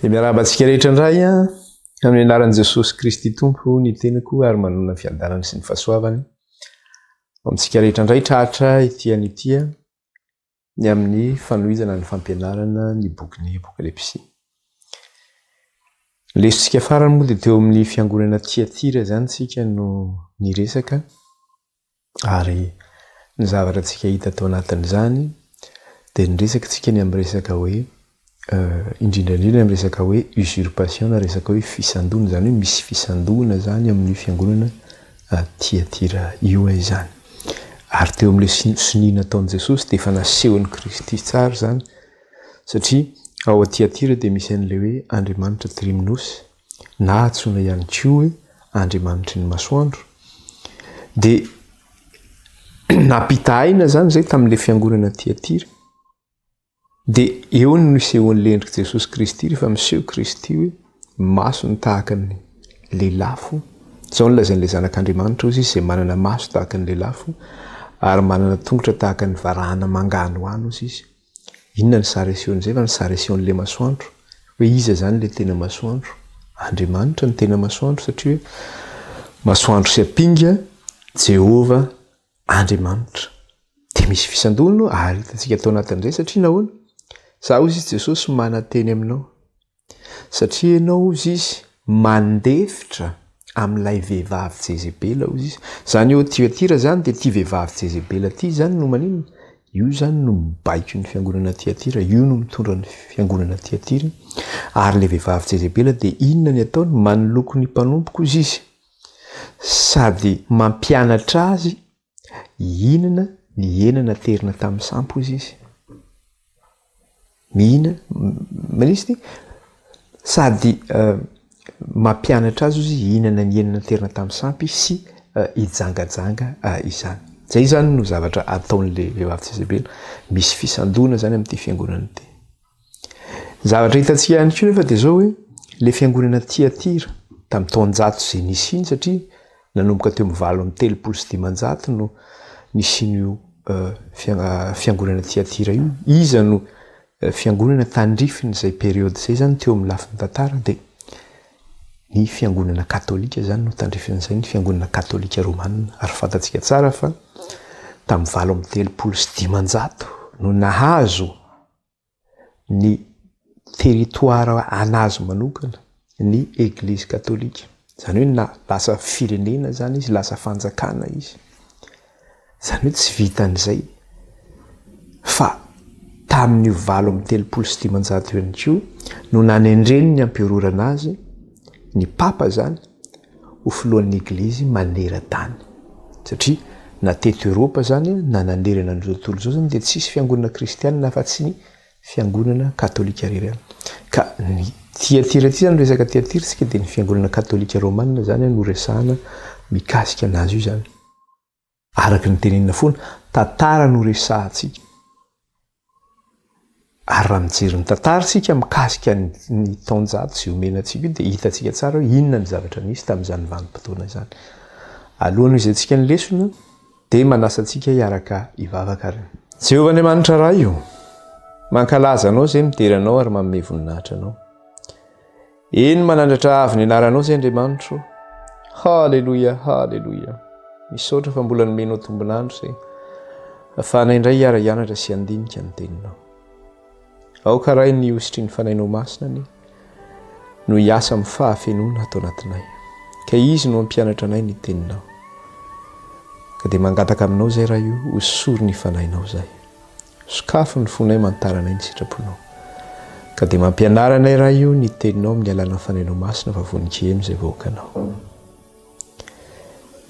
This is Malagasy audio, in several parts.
Dia miarahaba antsika rehetra indray amin'ny anaran'i Jesosy Kristy Tompo ny tenako ary manonona ny fiadanany sy ny fahasoavany. Amintsika rehetra indray tratra ity an'ity ny amin'ny fanohizana ny fampianarana ny bokin'ny Apokalypsy. Ny lesotsika farany moa dia teo amin'ny fiangonana Tiatira izany tsika no niresaka ary ny zavatra tsika hita tao anatin'izany dia niresaka tsika ny amin'ny resaka hoe indrindra indrindra ny resaka hoe usurpation na resaka hoe fisandoana izany hoe misy fisandoana izany amin'io fiangonana Tiatira io e izany. Ary teo amin'ilay sonia nataon'i Jesosy dia efa nasehon'i Kristy tsara izany satria ao Tiatira dia misy an'ilay hoe andriamanitra Trimnos na antsoina ihany koa hoe andriamanitry ny masoandro dia nampitahaina izany izay tamin'ilay fiangonana Tiatira. Dia eo no nisehoan'ny lendrik'i Jesosy Kristy rehefa miseho Kristy hoe maso ny tahaka ny lelafo. Izao no lazain'ilay Zanak'Andriamanitra, Hoy Izy izay manana maso tahaka ny lelafo ary manana tongotra tahaka ny varahana manga any ho any, hoy Izy. Inona ny sary asehon'izay fa ny sary asehon'ilay masoandro, hoe iza izany ilay tena masoandro? Andriamanitra no tena masoandro satria hoe masoandro sy ampinga, Jehovah, Andriamanitra. Dia misy fisandoana ahitantsika tao anatin'ny izay satria nahoana? Za hozy izy Jesosy mananteny aminao. Satria ianao hozy izy mandefitra amin'ilay vehivavy Jezebela hozy izy. Zany eo Tiatira izany dia ity vehivavy Jezebela ity izany no maninona? Io izany no mibaiko ny fiangonana Tiatira, io no mitondra ny fiangonana Tiatira. Ary ilay vehivavy Jezebela dia inona ny ataony? Manoloko ny mpanompoko hozy izy. Sady mampianatra azy hihinana ny hena naterina tamin'ny sampy hozy izy. Mihina, manisy ty? Sady mampianatra azy hozy hihinana ny hena naterina tamin'ny sampy sy hijangajanga izany. Zay zany no zavatra ataon'le vehivavy tsisy bela. Misy fisandoana zany amin'ity fiangonana ity. Zavatra hitantsika ihany koa nefa dia izao hoe ilay fiangonana Tiatira tamin'ny taonjato izay nisiany satria nanomboka teo amin'ny valo amby telopolo sy dimanjato no nisian'io fiangonana Tiatira io. Iza no fiangonana tandrifin' izay periode izay izany teo amin'ny lafiny tantara dia ny fiangonana katolika izany no tandrifin'izay ny fiangonana katolika romanina ary fantatsika tsara fa tamin'ny valo amby telopolo sy dimanjato no nahazo ny territoire anazy manokana ny eglizy katolika, zany hoe na lasa firenena zany izy, lasa fanjakana izy, zany hoe tsy vitan'izay fa tamin'io valo amby telopolo sy dimanjato io ihany koa no nanendren'ny emperora anazy, ny papa zany, ho filohan'ny Eglizy maneran-tany. Satria na teto Eoropa izany na nanerana an'izao tontolo izao izany dia tsisy fiangonana kristianina afa-tsy ny fiangonana katolika irery ihany. Ka ny Tiatira ity izany, resaka Tiatira isika dia ny fiangonana katolika romana izany no resahana mikasika an'azy io izany. Araka ny tenenina foana, tantara no resahantsika. Ary raha mijery ny tantara isika mikasika ny taonjato izay omena antsika io dia hitantsika tsara hoe inona ny zavatra nisy tamin'izany vanim-potoana izany. Alohan'ny hoizantsika ny lesona dia manasa antsika hiaraka hivavaka ary. Jehovah Andriamanitra Ray o! Mankalaza Anao izay midera Anao ary manome voninahitra Anao. Eny manandratra avo ny anaranao zay Andriamanitro. Haleloia, haleloia. Misaotra fa mbola nomenao tombon'andro zay. Afahanay indray hiara-hianatra sy handinika ny teninao. Aoka ray ny hositry ny fanainao masina ny no hiasa amin'ny fahafenoana ato anatinay. Ka izy no ampianatra anay ny teninao. Ka dia mangataka aminao zay ray io, hosory ny fanainao zay. Sokafy ny fonay mantaranay ny sitraponao. Ka dia mampianara anay Ray o ny teninao amin'ny alalan'ny Fanahinao Masina fa vonon-kiheno izay vahoakanao.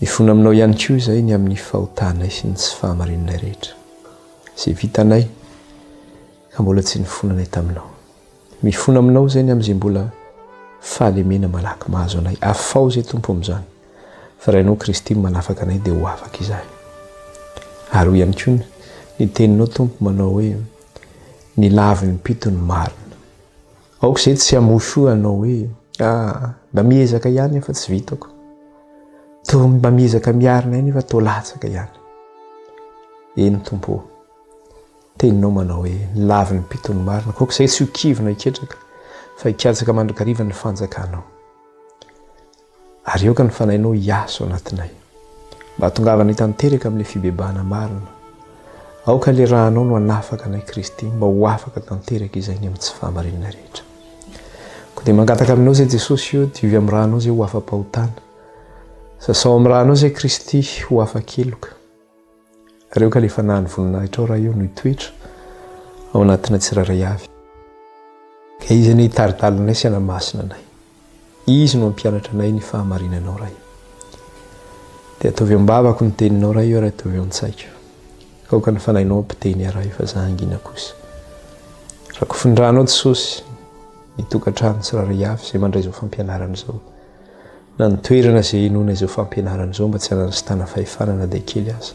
Mifona aminao ihany koa izay ny amin'ny fahotanay sy ny tsy fahamarinanay rehetra. Izay vitanay ka mbola tsy nifonanay taminao. Mifona aminao izay ny amin'izay mbola fahalemena malaky mahazo anay. Afaho izay Tompo amin'izany fa raha Ianao Kristy no manafaka anay dia ho afaka izahay. Ary hoy ihany koa ny ny teninao Tompo manao hoe ny laviny mpito ny marina. Aoka izay tsy hamosho hanao hoe ah mba miezaka ihany aho fa tsy vitako. Toa mba miezaka miarina ahy nefa toa latsaka ihany. Eny Tompo o. Teninao manao hoe, Ny lavin'ny mpitory ny marina, koa aok'izay tsy ho kivy na hiketraka, fa hikatsaka mandrakariva ny fanjakanao. Ary aoka ny fanahinao hiasa ao anatinay, mba hahatongavana hitanteraka amin'ilay fibebahana marina. Aoka ilay rànao no hanafaka anay, Kristy, mba ho afaka tanteraka izay ny amin'ny tsy fahamarinana rehetra. Koa dia mangataka aminao izay, Jesosy ô, diovy amin'ny rànao izay ho afa-pahotana. Sasao amin'ny rànao izay, Kristy, ho afa-keloka. Reo ka le fanahy ny voninahitrao raha eo no hitoetra ao anatina tsirairay avy. Ka izy anie hitari-dalanay sy hanamasina anay. Izy no hampianatra anay ny fahamarinanao raha eo. Dia ataovy eo am-bavako ny teninao raha eo ary ataovy eo an-tsaiko. Ka aoka ny fanahinao hampiteny ahy raha eo fa za hangina kosa. Rakofin-dranao Jesosy ny tokantrano tsirairay avy izay mandray izao fampianarana izao. Na ny toerana izay hinoana izao fampianarana izao mba tsy hanasitana fahefana na dia kely aza.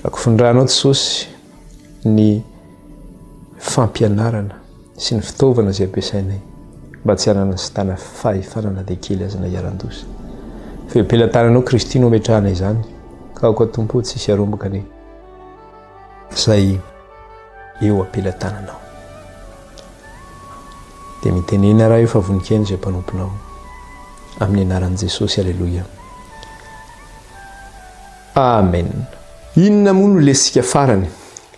Rakofindranao Jesosy ny fampianarana sy ny fitaovana izay ampiasainay mba tsy hananasitana fahefana na dia kely aza na hiaran-doza. Feo pelatananao Kristy no ametrahana izany ka aoka Tompo tsy hisy arombaka ny izay eo am-pelatananao. Dia mitenena raha efa vonikeny izay mpanomponao. Amin'ny anaran'i Jesosy, Aleloia. Amen. Inona moa no lesintsika farany?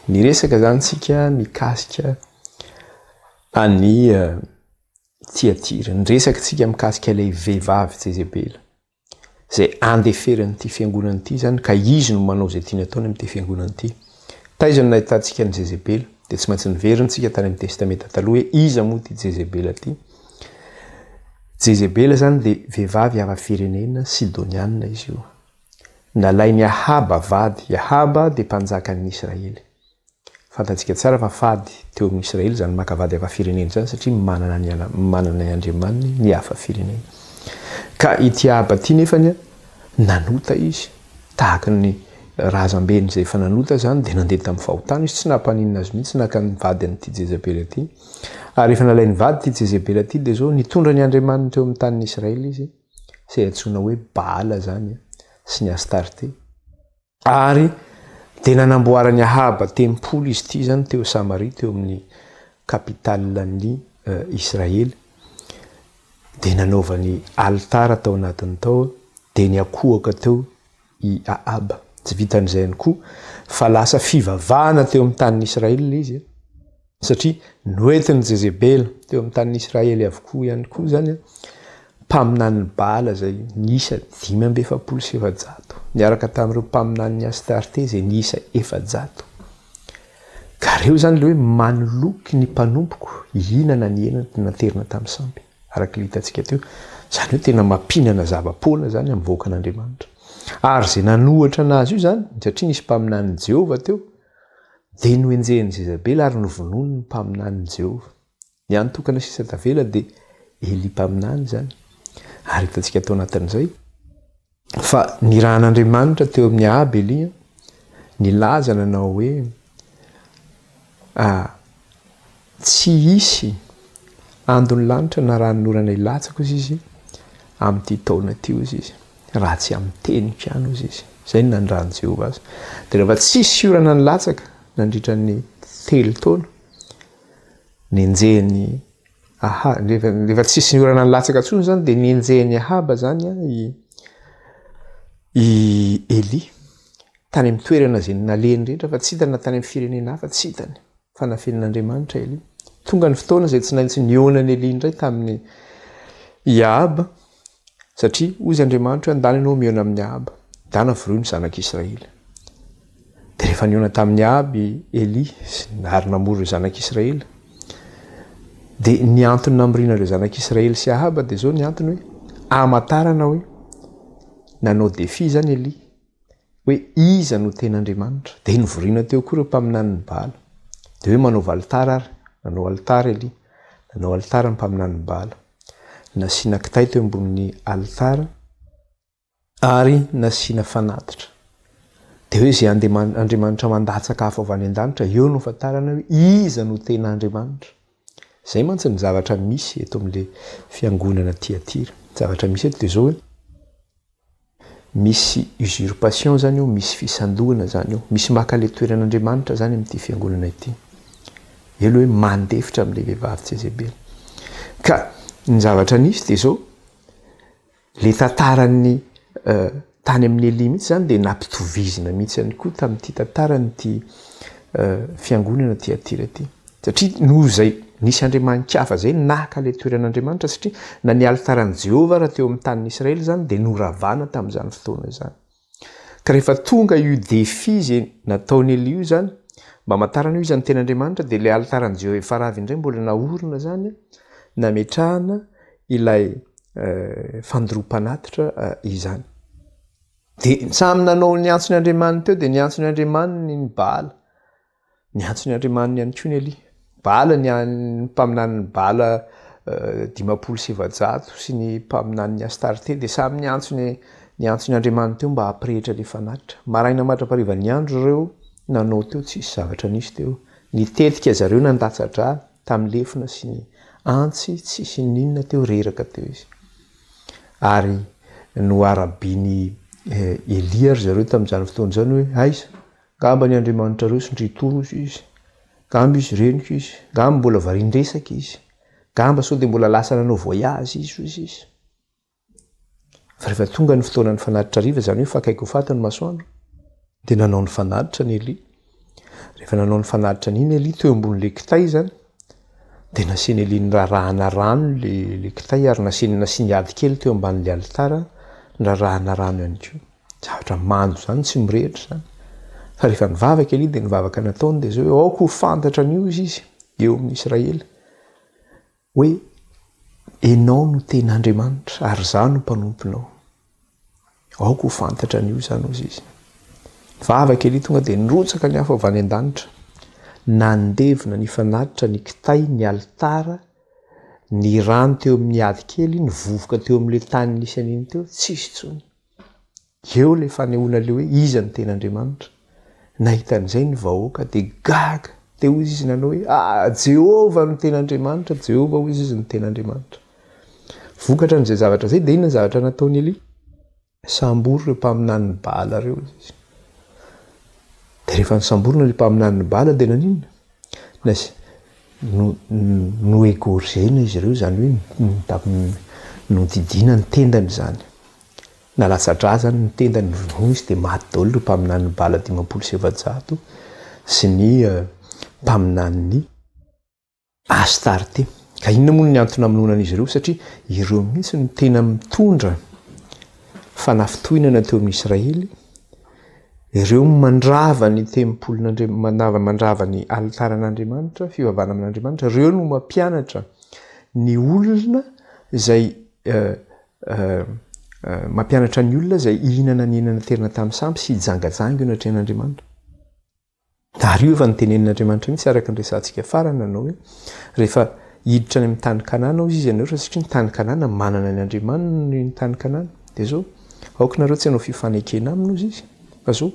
Niresaka izany tsika mikasika an'i eh, Tiatira. Niresaka tsika mikasika ilay vehivavy Jezebela. izay andeferany ity fiangonana ity izany ka izy no manao izay tiany ataony amin'ity fiangonana ity. Taiza no nahitantsika an'i Jezebela? Dia tsy maintsy niverintsika tany amin'ny Testamenta Taloha hoe iza moa ity Jezebela ity? Jezebela izany dia vehivavy hafa firenena Sidoniana izy io. Nalain'i Ahaba vady, i Ahaba dia mpanjakan'ny Israely. Fantantsika tsara fa fady teo amin'ny Israely izany maka vady hafa firenena izany satria manana ny manana ny andriamaniny ny hafa firenena. Ka ity Ahaba ity nefany nanota izy tahaka ny razambeny izay efa nanota izany dia nandeha tamin'ny fahotana izy tsy nampaninona azy mihitsy naka ny vadiny ity Jezabela ity. Ary efa nalain'ny vady ity Jezabela ity dia izao nitondra ny andriamaniny teo amin'ny tanin'ny Israely izy izay antsoina hoe Baala izany sy ny Astarte. Ary dia nanamboaran'i Ahaba tempoly izy ity izany teo Samaria, teo amin'ny kapitalin'i Israely. Dia nanaovany alitara tao anatiny tao, dia niakohoka teo i Ahaba. Tsy vitan'izay ihany koa, fa lasa fivavahana teo amin'ny tanin'i Israely ilay izy. Satria noentin'i Jezebela teo amin'ny tanin'i Israely avokoa ihany koa izany mpaminanin'i Baala izay niisa dimy amby efapolo sy efajato, niaraka tamin'ireo mpaminanin'i Astarte izay niisa efajato. Ka ireo izany ilay hoe manoloky ny mpanompoko hihinana ny hena naterina tamin'ny sampy, araka ilay hitantsika teo. Izany hoe tena mampihinana zava-poana izany amin'ny vahoakan'Andriamanitra. Ary izay nanohitra anazy io izany, satria nisy mpaminanin'i Jehovah teo, Dia nohenjehin'i Jezabela ary novonoiny ny mpaminanin'i Jehovah. Ny hany tokana sisa tavela dia Elia mpaminany izany, ary hitantsika tao anatin'izay fa nirahan'Andriamanitra teo amin'ny Ahaba Elia nilaza nanao hoe, Tsy hisy andon'ny lanitra na ranon'orana hilatsaka hozy izy amin'ity taona ity hozy izy, raha tsy amin'ny teniko ihany hozy izy. Izay no nanondran'i Jehovah azy. Dia rehefa tsy hisy orana nilatsaka nandritra ny telo taona, nenjehin'i Aha- rehefa rehefa tsy hisy orana nilatsaka intsony izany dia nenjehin'i Ahaba izany i i Elia Tany amin'ny toerana izay nalehiny rehetra fa tsy hitany na tany amin'ny firenena hafa tsy hitany fa nafenin'Andriamanitra Elia. Tonga ny fotoana izay tsy naintsy nihaona an'i Elia indray tamin'i Ahaba satria hoy izy Andriamanitra hoe andany ianao mihaona amin'i Ahaba. Dana voroy ny zanak'i Israely. Dia rehefa nihaona tamin'i Ahaba i Elia ary namory ireo zanak'i Israely dia ny antony namoriana ireo zanak'i Israely sy Ahaba dia izao ny antony hoe amantarana hoe nanao défi izany Elia hoe iza no tena Andriamanitra. Dia novoriana teo koa ireo mpaminanin'i Baala. Dia hoe manaova alitara ary. Nanao alitara i Elia. Nanao alitara ny mpaminanin'i Baala. Nasiana kitay teo ambonin'ny alitara ary nasiana fanatitra. Dia hoe izay andriamanitra mandatsaka afo avy any an-danitra, eo no ahafantarana hoe iza no tena Andriamanitra. Izay mantsy ny zavatra misy eto amin'ilay fiangonana Tyatira. Ny zavatra misy eto dia izao hoe. Misy usurpation izany io, misy fisandohana izany io. Misy maka ilay toeran'Andriamanitra izany amin'ity fiangonana ity. Elo hoe mandefitra amin'ilay vehivavy Jezebela. Ka ny zavatra nisy dia izao, ilay tantaran'ny tany amin'ny Elia mihitsy izany dia nampitovizina mihitsy ihany koa tamin'ity tantaran'ity fiangonana Tyatira ity. Satria noho izay nisy andriamani-kafa izay naka ilay toeran'Andriamanitra, satria na ny alitaran'i Jehovah ary teo amin'ny tanin'i Israely izany dia noravana tamin'izany fotoana izany. Ka rehefa tonga io défi izay nataon'i Elihu izany, mba hamantarana hoe iza no tena Andriamanitra, dia ilay alitaran'i Jehovah efa rava indray mbola naorina izany, nametrahana ilay fandoroam-panatitra izany. Dia samy nanao ny antson'ny andriamaniny teo, dia ny antson'ny andriamaniny ny Baala, Niantso ny andriamaniny ihany koa ny Elia. Bala, ny mpaminanin'i Bala dimampolo sy efajato sy ny mpaminanin'i Astarte dia samy niantso ny niantso ny andriamaniny teo mba hampirehitra ilay fanatitra. Maraina mandra-pariva niandry ireo nanao teo tsisy zavatra nisy teo. Nitetika zareo nandatsa-dra tamin'ny lefona sy ny antsy tsisy n'inona teo reraka teo izy. Ary noharabian'i Elia ry zareo tamin'izany fotoana izany hoe aiza Ngamba ny andriamanitra reo sy ndry toros izy, ngamba izy reniko izy, ngamba mbola varian-dresaka izy, ngamba sao dia mbola lasa nanao voyage izy hozy izy. Fa rehefa tonga ny fotoana ny fanatitra hariva, izany hoe efa akaiky ho faty ny masoandro, dia nanao ny fanatitra ny Elia. Rehefa nanao ny fanatitra an'iny Elia teo ambon'ilay kitay izany, dia nasian'i Elia nirarahana rano ilay kitay ary nasiany nasiany ady kely teo ambanin'ilay alitara nirarahana rano ihany koa. Zavatra mando izany tsy mirehitra izany. Fa rehefa nivavaka Elia dia ny vavaka nataony dia izao hoe aoka ho fantatra an'io izy izy eo amin'ny Israely hoe ianao no tena Andriamanitra ary izaho no mpanomponao. Aoka ho fantatra an'io izany hoy izy. Nivavaka Elia tonga dia nirotsaka ny afo avy any an-danitra. Nandevina ny fanatitra ny kitay ny alitara ny rano teo amin'ny ady kely ny vovoka teo amin'ilay tany nisy an'iny teo tsisy intsony. Eo ilay fanehoana ilay hoe iza no tena Andriamanitra. Nahita an'izay ny vahoaka dia gaga. Dia hoy izy nanao hoe ah Jehovah no tena Andriamanitra, Jehovah hoy izy no tena Andriamanitra. Vokatra an'izay zavatra izay dia inona ny zavatra nataon'i Elia? Sambory ireo mpaminanin'i Baala ireo izy. Dia rehefa nisamborina ilay mpaminanin'i Baala dia naninona? Nas, no-no-noegorgena izy ireo, izany hoe no-tam-nodidiana ny tendany izany. Nalatsa-drà izany ny tendany, novonoina izy dia maty daholo ireo mpaminanin'i Bala dimampolo sy efajato sy ny mpaminanin'i Astarte. Ka inona moa ny antony namonoana an'izy ireo? Satria ireo mihitsy no tena mitondra fanafintohinana teo amin'i Israely. Ireo mandrava ny tempolin'Andriamanitra, mandrava ny alitaran'Andriamanitra, fivavahana amin'Andriamanitra, ireo no mampianatra ny olona izay mampianatra ny olona izay hihinana ny henan'ny aterineto amin'ny sampy sy hijangajanga eo anatrehan'Andriamanitra. Tariova ny tenenin'Andriamanitra mihitsy araka ny resahantsika farany nanao hoe rehefa hiditra any amin'ny tany Kanana hozy izy ianareo satria ny tany Kanana manana ny andriamaniny ny tany Kanana. Dia zao, aoka nareo tsy hanao fifanekena aminy hozy izy. Fa zao,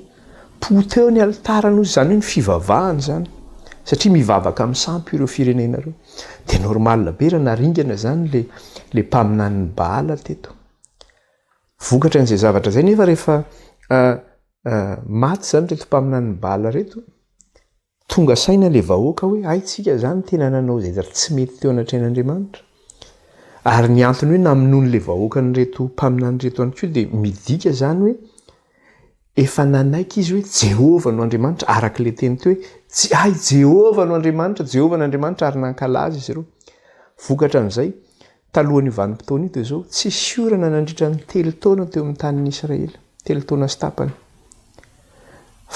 poteho ny alitarany hozy izany hoe ny fivavahany izany satria mivavaka amin'ny sampy ireo firenena ireo. Dia normal be raha naringana izany le le mpaminanin'i Baala teto. Vokatran'izay zavatra izay nefa rehefa Ah, maty zany reto mpaminan'ny Bala reto, tonga saina le vahoaka hoe hay tsika zany tena nanao zay tsy mety teo anatrehan'Andriamanitra. Ary ny antony hoe namonoany le vahoaka an'ireto mpaminany reto ihany koa dia midika zany hoe efa nanaiky izy hoe Jehovah no Andriamanitra araka le teny teo hoe hay Jehovah no Andriamanitra, Jehovah no Andriamanitra ary nankalaza izy ireo. Vokatra an'izay, Talohan'io vanim-potoana io dia izao, Tsisy orana nandritra ny telo taona teo amin'ny tanin'i Israely, telo taona sy tapany,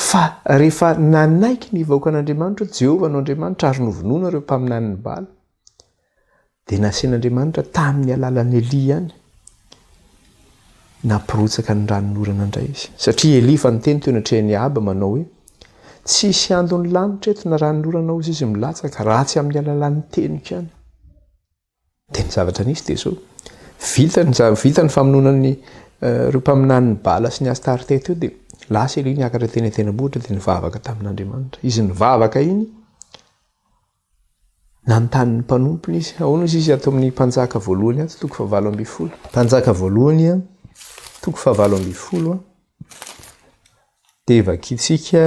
fa rehefa nanaiky ny vahoakan'Andriamanitra hoe Jehovah no Andriamanitra ary novonoina ireo mpaminanin'i Bala, dia nasian'Andriamanitra tamin'ny alalan'i Elia ihany, nampirotsaka ny ranon'orana indray izy. Satria Elia efa niteny teo anatrehan'i Ahaba manao hoe, Tsy hisy andon'ny lanitra eto na ranon'orana hozy izy milatsaka, raha tsy amin'ny alalan'ny teniko ihany. Dia ny zavatra nisy dia izao, vita ny za- vita ny famonoana ny ireo mpaminanin'i Bala sy ny Astarté teo dia lasa Elia niakatra teny an-tendrombohitra dia nivavaka tamin'Andriamanitra. Izy nivavaka iny, nanontany ny mpanompony izy, ahoana hozy izy ato amin'ny Mpanjaka voalohany ato, toko fahavalo ambin'ny folo. Mpanjaka voalohany a, toko fahavalo ambin'ny folo a, dia vakintsika.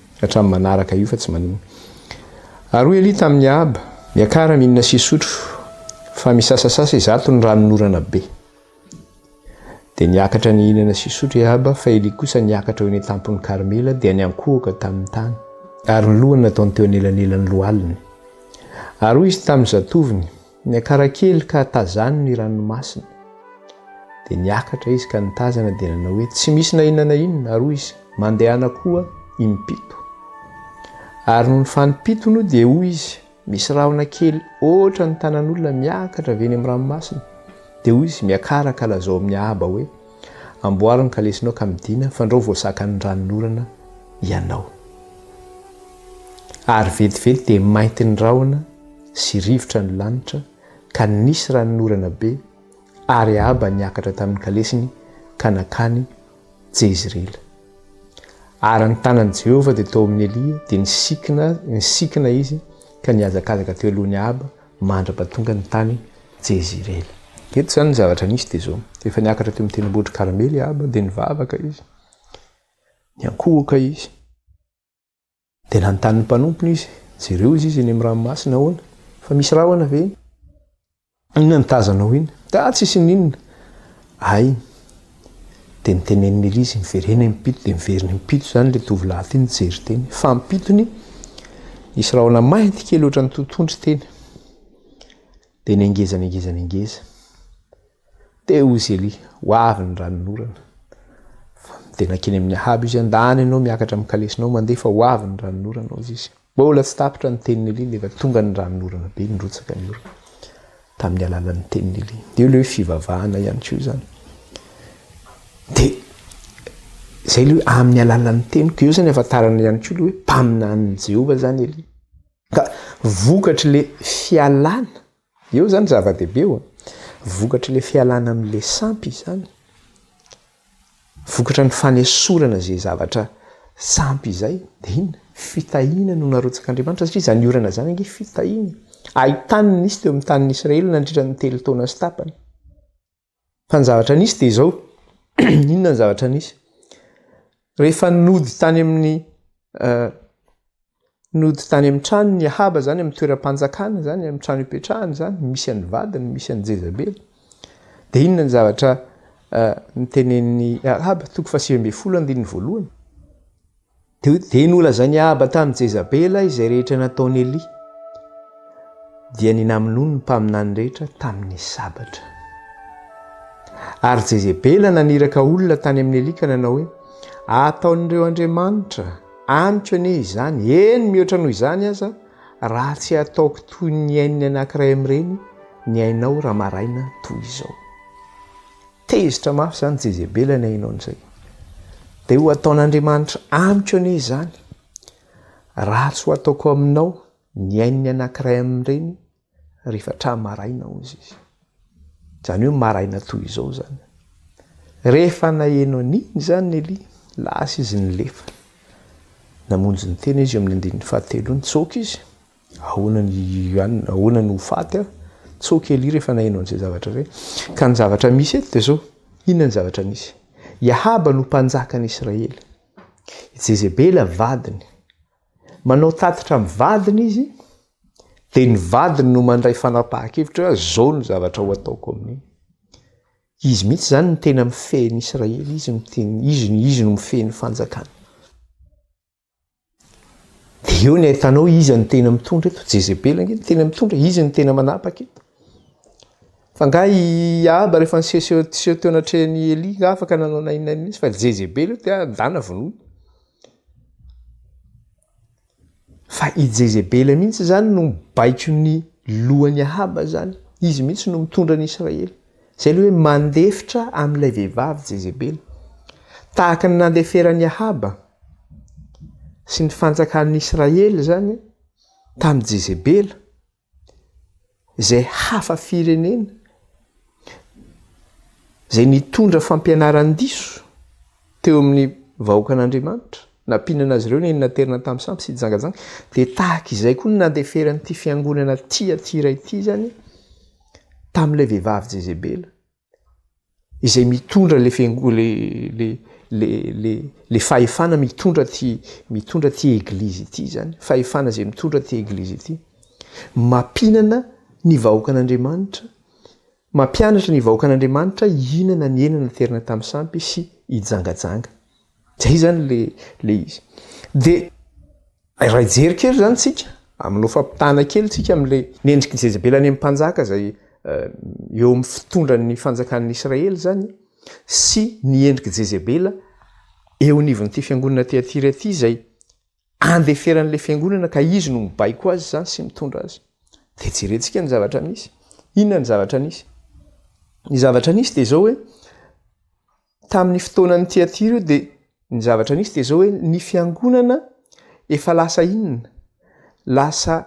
Hatramin'ny manaraka io fa tsy manino. Ary hoy Elia tamin'i Ahaba, Miakara, mihinana sy hisotro, fa misasasasa izato ny ranonorana be. Dia niakatra nihinana sy hisotro i Ahaba, fa Elia kosa niakatra ho eny an-tampon'i Karmela, dia niankohoka tamin'ny tany. Ary ny lohany nataony teo anelanelan'ny lohaliny. Ary hoy izy tamin'ny zatovony, Niakara kely ka tazany ny ranomasina. Dia niakatra izy ka nitazana dia nanao hoe, Tsy misy na inona na inona. Ary hoy izy, Mandehana koa impito. Ary nony fanimpitony dia hoy izy, Misy rahona kely hoatra ny tanan'olona miakatra avy eny amin'ny ranomasina. Dia hoy izy, Miakara ka lazao amin'ny haba hoe, Amboary ny kalesinao ka midina, fandrao vao zakan'ny ranon'orana ianao. Ary vetivety dia mainty ny rahona. sy rivotra ny lanitra ka nisy ranon'orana be ary Ahaba niakatra tamin'ny kalesiny ka nankany Jezreela. Ary ny tanan'i Jehovah dia tao amin'i Elia, dia nisikina, nisikina izy ka nihazakazaka teo alohan'i Ahaba mandra-pahatongany tany Jezreela. Eto izany ny zavatra nisy dia izao, efa niakatra teo amin'ny tendrombohitr'i Karmely i Ahaba dia nivavaka izy, niankohoka izy. Dia nanontany ny mpanompony izy, Jereo izy izy eny amin'ny ranomasina, ahoana? Fa misy rahona ve eny? Inona no tazanao eny? Dia tsisy n'inona. Hay! Dia niteneniny ery izy, Miverena eny am-pito, dia miverina am-pito izany ilay tovolahy ity nijery teny. Fa am-pitony, nisy rahona mainty kely ohatran'ny totohondry teny. Dia nengeza, nengeza, nengeza. Teo izy Elia, ho avy ny ranonorana. Dia nankeny amin'i Ahaba izy, Andany ianao miakatra amin'ny kalesinao, mandeha fa ho avy ny ranonorana, hozy izy. Mbola tsy tapitra ny tenin'i Elia, nefa tonga ny ranonorana be, nirotsaka ny orana, tamin'ny alalan'ny tenin'i Elia. Dia ilay hoe fivavahana ihany koa izany. Dia izay ilay hoe amin'ny alalan'ny teniko, eo izany afantarana ihany koa ilay hoe mpaminanin'i Jehovah izany Elia. Ka vokatr'ilay fialana Eo zany zava-dehibe eo a. Vokatry le fialana amin' le sampy izany. Vokatra ny fanesorana ze zavatra sampy izay. De inona? Fitahiana no narotsak' Andriamanitra satria zany orana zany ange fitahiana. Ahi-tany no nisy teo amin' ny tanin' Israely nandritra ny telo taona sy tapany. Fa ny zavatra nisy dia izao, inona ny zavatra nisy? Rehefa nody tany amin'ny uh, nody tany amin'ny trano ny Ahaba zany amin'ny toeram-panjakana zany amin'ny trano ipetrahany zany misy an'ny vadiny misy an'ny Jezabela dia inona ny zavatra uh, nitenenin'ny Ahaba toko fa sivy ambin'ny folo andininy voalohany Dia nolazain'i Ahaba tamin'i Jezabela izay rehetra nataon'i Elia, dia ninamonoany ny mpaminany rehetra tamin'ny sabatra. Ary Jezebela naniraka olona tany amin'i Elia ka nanao hoe, Ataon'ireo andriamanitra amiko anie izany, eny mihoatra noho izany aza, raha tsy ataoko toy ny ain'ny anankiray amin'ireny ny ainao raha maraina toy izao. Tezitra mafy izany Jezebela ny haino an'izay. Dia ho ataon'Andriamanitra amiko anie izany. Raha tsy ho ataoko aminao ny ain'ny anankiray amin'ireny rehefa hatramin'ny maraina, hoy izy. Izany hoe maraina toy izao izany. Rehefa naheno an'iny izany Elia, lasa izy nilefa. Namonjy ny tena izy eo amin'ny andininy fahatelo iny, tsoaka izy. Ahoana ny Yuan? Ahoana no ho faty aho? Tso kely i rehefa naheno an'izay zavatra izay. Ka ny zavatra misy eto dia izao, inona ny zavatra misy? I Ahaba no mpanjakan'i Israely. I Jezebela vadiny. Manao tatitra amin'ny vadiny izy, dia ny vadiny no mandray fanapahan-kevitra hoe izao no zavatra ho ataoko amin'iny. Izy mihitsy izany no tena mifehy an'i Israely, izy no tena, izy no, izy no mifehy ny fanjakany. Dia eo ny ahitanao iza ny tena mitondra eto, Jezebela ange ny tena mitondra, izy ny tena manapaka eto. Fa nga i Ahaba rehefa niseho seho teo anatrehan'i Elia, nga afaka nanao nainina mihitsy fa Jezebela io dia ndana vonoy. Fa i Jezebela mihitsy izany no mibaiko ny lohan'i Ahaba izany, izy mihitsy no mitondra ny Israely. Zay le hoe mandefitra amin'ilay vehivavy Jezebela. Tahaka ny nandeferan'i Ahaba sy ny fanjakan'ny Israely izany tamin'i Jezebela izay hafa firenena izay nitondra fampianaran-diso teo amin'ny vahoakan'Andriamanitra nampianana azy ireo ny naterina tamin'ny sampy sy jangajanga dia tahaka izay koa ny nandeferan'ity fiangonana tia ity iray ity izany tamin'ilay vehivavy Jezebela izay mitondra le fengo le le le le le fahefana mitondra ty mitondra ty eglizy ity zany fahefana izay mitondra ty eglizy ity mampinana ny vahoakan'Andriamanitra mampianatra ny vahoakan'Andriamanitra hihinana ny hena naterina tamin'ny sampy sy hijangajanga zay zany le le izy de Raha hijery kely izany isika, amin'ny hofampitana kely isika amin'ilay mendrik'i Jezebela any amin'ny mpanjaka izay eo amin'ny fitondran'ny fanjakan'ny Israely izany sy ny endrik'i Jezebela eo anivon'ity fiangonana Tyatira ity izay andeferan'ilay fiangonana ka izy no mibaiko azy izany sy mitondra azy. Dia jerentsika ny zavatra nisy. Inona ny zavatra nisy? Ny zavatra nisy dia izao hoe Tamin'ny fotoanan'i Tiatira io dia ny zavatra nisy dia izao hoe ny fiangonana efa lasa inona? Lasa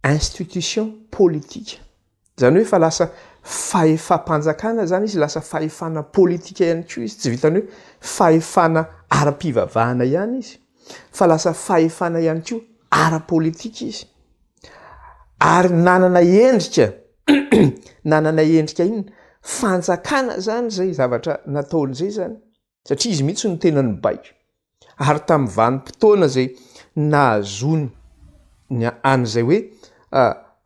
institution politika. Izany hoe efa lasa fahefam-panjakana izany izy, lasa fahefana politika ihany koa izy, tsy vitan'ny hoe fahefana ara-pivavahana ihany izy fa lasa fahefana ihany koa ara-politika izy. Ary nanana endrika nanana endrika inona? Fanjakana izany izay zavatra nataony izay izany, satria izy mihitsy no tena nibaiko. Ary tamin'ny vanim-potoana izay nahazoany ny an'izay hoe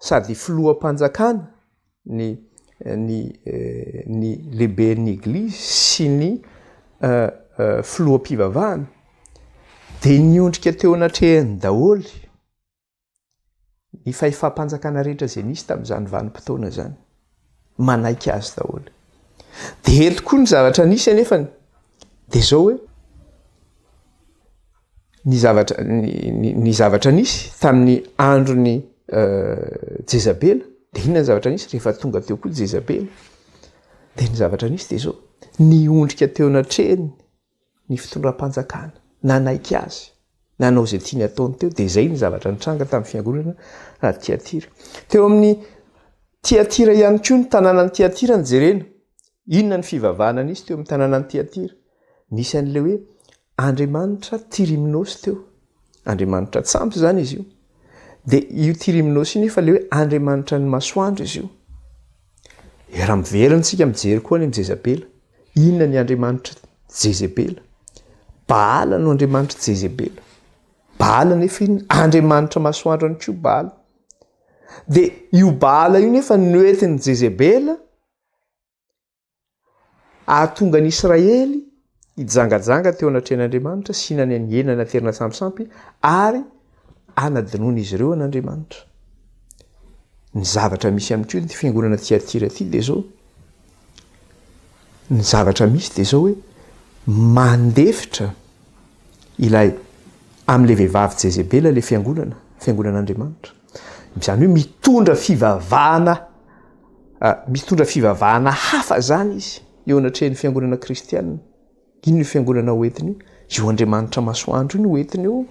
sady filoham-panjakana ny ny ny lehiben'ny Eglizy sy ny filoham-pivavahana dia niondrika teo anatrehany daholo Ny fahefam-panjakana rehetra izay nisy tamin'izany vanim-potoana izany, manaiky azy daholo. Dia eto koa ny zavatra nisy anefa dia izao hoe, ny zavatra ny zavatra nisy tamin'ny andron'ny euh, Jezabela dia inona ny zavatra nisy rehefa tonga teo koa Jezabela dia ny zavatra nisy dia izao niondrika teo anatrehany ny fitondram-panjakana nanaiky azy nanao izay tiany ataony teo dia izay ny zavatra nitranga tamin'ny fiangonana raha tiatira teo amin'ny tiatira ihany koa ny tanàna ny tiatira ny jerena inona ny fivavahana nisy teo amin'ny tanàna ny tiatira nisy an'ilay hoe andriamanitra tiriminosy teo Andriamanitra tsy ampy izany izy io. Dia io Tyrimnos io nefa ilay hoe Andriamanitra ny masoandro izy io. E raha miverina isika mijery koa ny Jezabela, inona ny Andriamanitra Jezebela? Baala no Andriamanitra Jezebela. Baala nefa inona? Andriamanitra masoandro any koa Baala. Dia io Baala io nefa noentin'i Jezebela Ahatonga an'i Israely hijangajanga teo anatrehan'Andriamanitra sy hinany an'i Hena naterina sampisampy ary anadinoana izy ireo an'Andriamanitra. Ny zavatra misy amin'ity io, ny fiangonana tiatira ity dia izao, ny zavatra misy dia izao hoe mandefitra ilay amin'ilay vehivavy Jezebela ilay fiangonana, fiangonan'Andriamanitra. Izany hoe mitondra fivavahana mitondra fivavahana hafa izany izy eo anatrehan'ny fiangonana kristianina. Ino io fiangonana ho entiny io? Io Andriamanitra masoandro io no entiny io.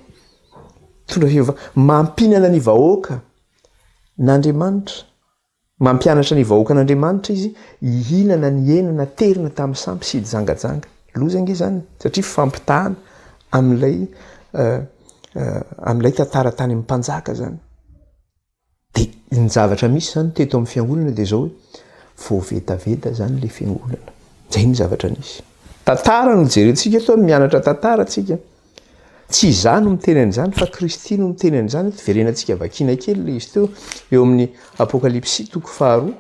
Mitondra fivavahana mampinana ny vahoaka n'Andriamanitra. Mampianatra ny vahoakan'Andriamanitra izy hihinana ny hena naterina tamin'ny sampy sy hijangajanga. Loza ange izany satria fampitahana amin'ilay amin'ilay tantara tany amin'ny mpanjaka izany. Dia ny zavatra misy izany teto amin'ny fiangonana dia izao hoe vao vetaveta izany ilay fiangonana. Izay ny zavatra nisy. Tantara no jerentsika eto, mianatra tantara isika. Tsy izaho no miteny an'izany fa Kristy no miteny an'izany eto. Verenantsika vakina kely ilay izy teo eo amin'ny Apokalypsy toko faharoa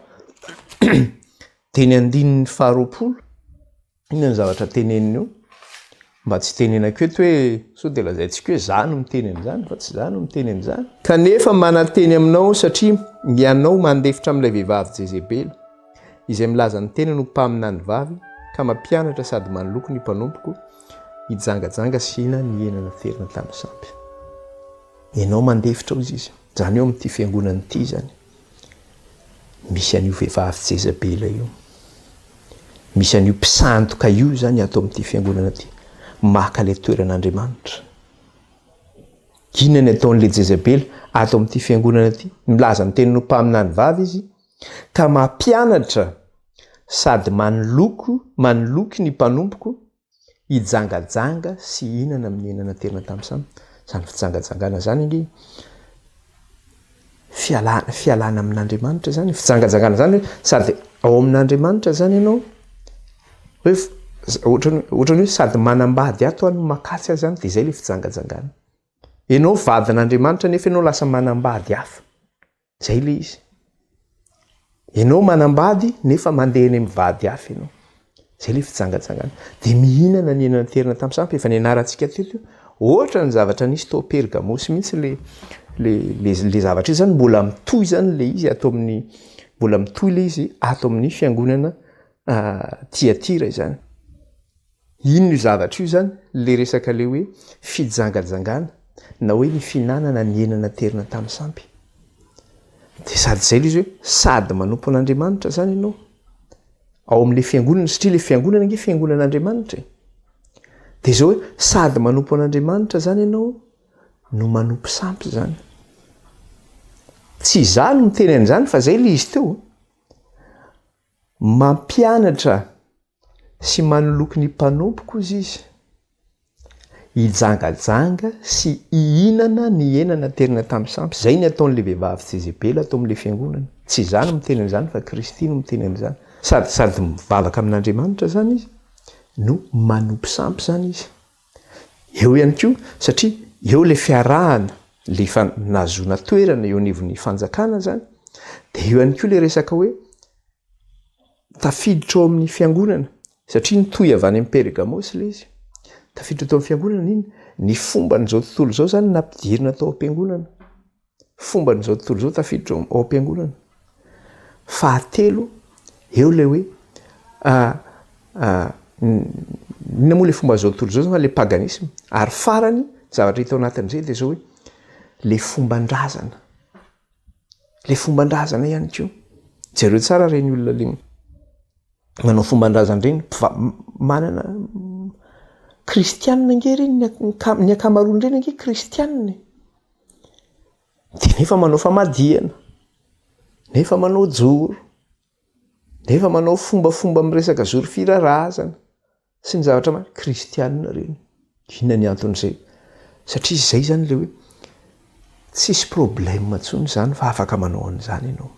dia ny andininy faharoapolo. Inona ny zavatra teneniny eo? Mba tsy tenenako eto hoe sao dia lazaintsika hoe izaho no miteny an'izany fa tsy izaho no miteny an'izany. Kanefa mananteny aminao satria ianao mandefitra amin'ilay vehivavy Jezebela izay milaza ny tenany ho mpaminany vavy ka mampianatra sady manoloko ny mpanompoko hijangajanga sy hina ny hena naterina tamin'ny sampy. Ianao mandefitra hozy izy. Izany eo amin'ity fiangonana ity izany. Misy an'io vehivavy Jezabela io. Misy an'io mpisandoka io izany ato amin'ity fiangonana ity. Maka ilay toeran'Andriamanitra. Inona ny ataon'ilay Jezabela ato amin'ity fiangonana ity? Milaza ny tenin'ny mpaminany vavy izy Ka mampianatra sady manoloko manoloky ny mpanompoko hijangajanga sy hihinana amin'ny hena naterina tamin'ny sampy. Izany fijangajangana izany ange fialana fialana amin'Andriamanitra izany. Fijangajangana izany hoe sady ao amin'Andriamanitra izany ianao hoe ohatran'ny hoe ohatran'ny hoe sady manambady ato aho no makatsy azy any dia izay ilay fijangajangana. Ianao vadin'Andriamanitra nefa ianao lasa manambady hafa. Zay le izy. Enao manambady nefa mandeha any amin'ny vady hafa enao. Zay le fijangajangana. De mihinana ny ena niterina tamin'ny sampy efa nianarantsika teto io. Ohatra ny zavatra nisy tao Pergamosy mihitsy le le le le zavatra izany mbola mitohy izany le izy ato amin'ny mbola mitohy le izy ato amin'ny fiangonana Tiatira izany. Inona io zavatra io izany? Ilay resaka ilay hoe fijangajangana na hoe ny fihinanana ny hena naterina tamin'ny sampy. Dia sady izay ilay izy hoe sady manompo an'Andriamanitra izany ianao ao amin'ilay fiangonana satria ilay fiangonana ange fiangonan'Andriamanitra e. Dia izao hoe sady manompo an'Andriamanitra izany ianao no manompo sampy izany. Tsy izaho no miteny an'izany fa izay ilay izy teo. Mampianatra sy manoloky ny mpanompo koza izy, hijangajanga sy hihinana ny hena naterina tamin'ny sampy, izay ny ataon'ilay vehivavy Jezebela tao amin'ilay fiangonana. Tsy izaho no miteny an'izany fa Kristy no miteny an'izany. Sady sady mivavaka amin'Andriamanitra izany izy no manompo sampy izany izy. Eo ihany koa, satria eo ilay fiarahana, ilay efa nahazoana toerana eo anivon'ny fanjakana izany, dia eo ihany koa ilay resaka hoe, Tafiditra ao amin'ny fiangonana, satria nitohy avy any amin'i Pergamosy ilay izy. Tafiditra tao amin'ny fiangonana iny. Ny fomban'izao tontolo izao izany no nampidirina tao am-piangonana. Fomban'izao tontolo izao tafiditra ao ao am-piangonana. Fahatelo, eo ilay hoe inona moa ilay fomban'izao tontolo izao? Ilay paganisma. Ary farany, zavatra hita ao anatin'izay dia izao hoe ilay fomban-drazana. Ilay fomban-drazana ihany koa. Jereo tsara ireny olona ilay manao fomban-drazana ireny, manana kristianina ange ireny, ny ankamaroany ireny ange kristianina e. Dia nefa manao famadihana, nefa manao joro, nefa manao fombafomba miresaka zoro fira-razana. Tsy ny zavatra maha kristianina ireny. Inona ny anton'izay? Satria izay izany ilay hoe tsisy problème intsony izany fa afaka manao an'izany ianao.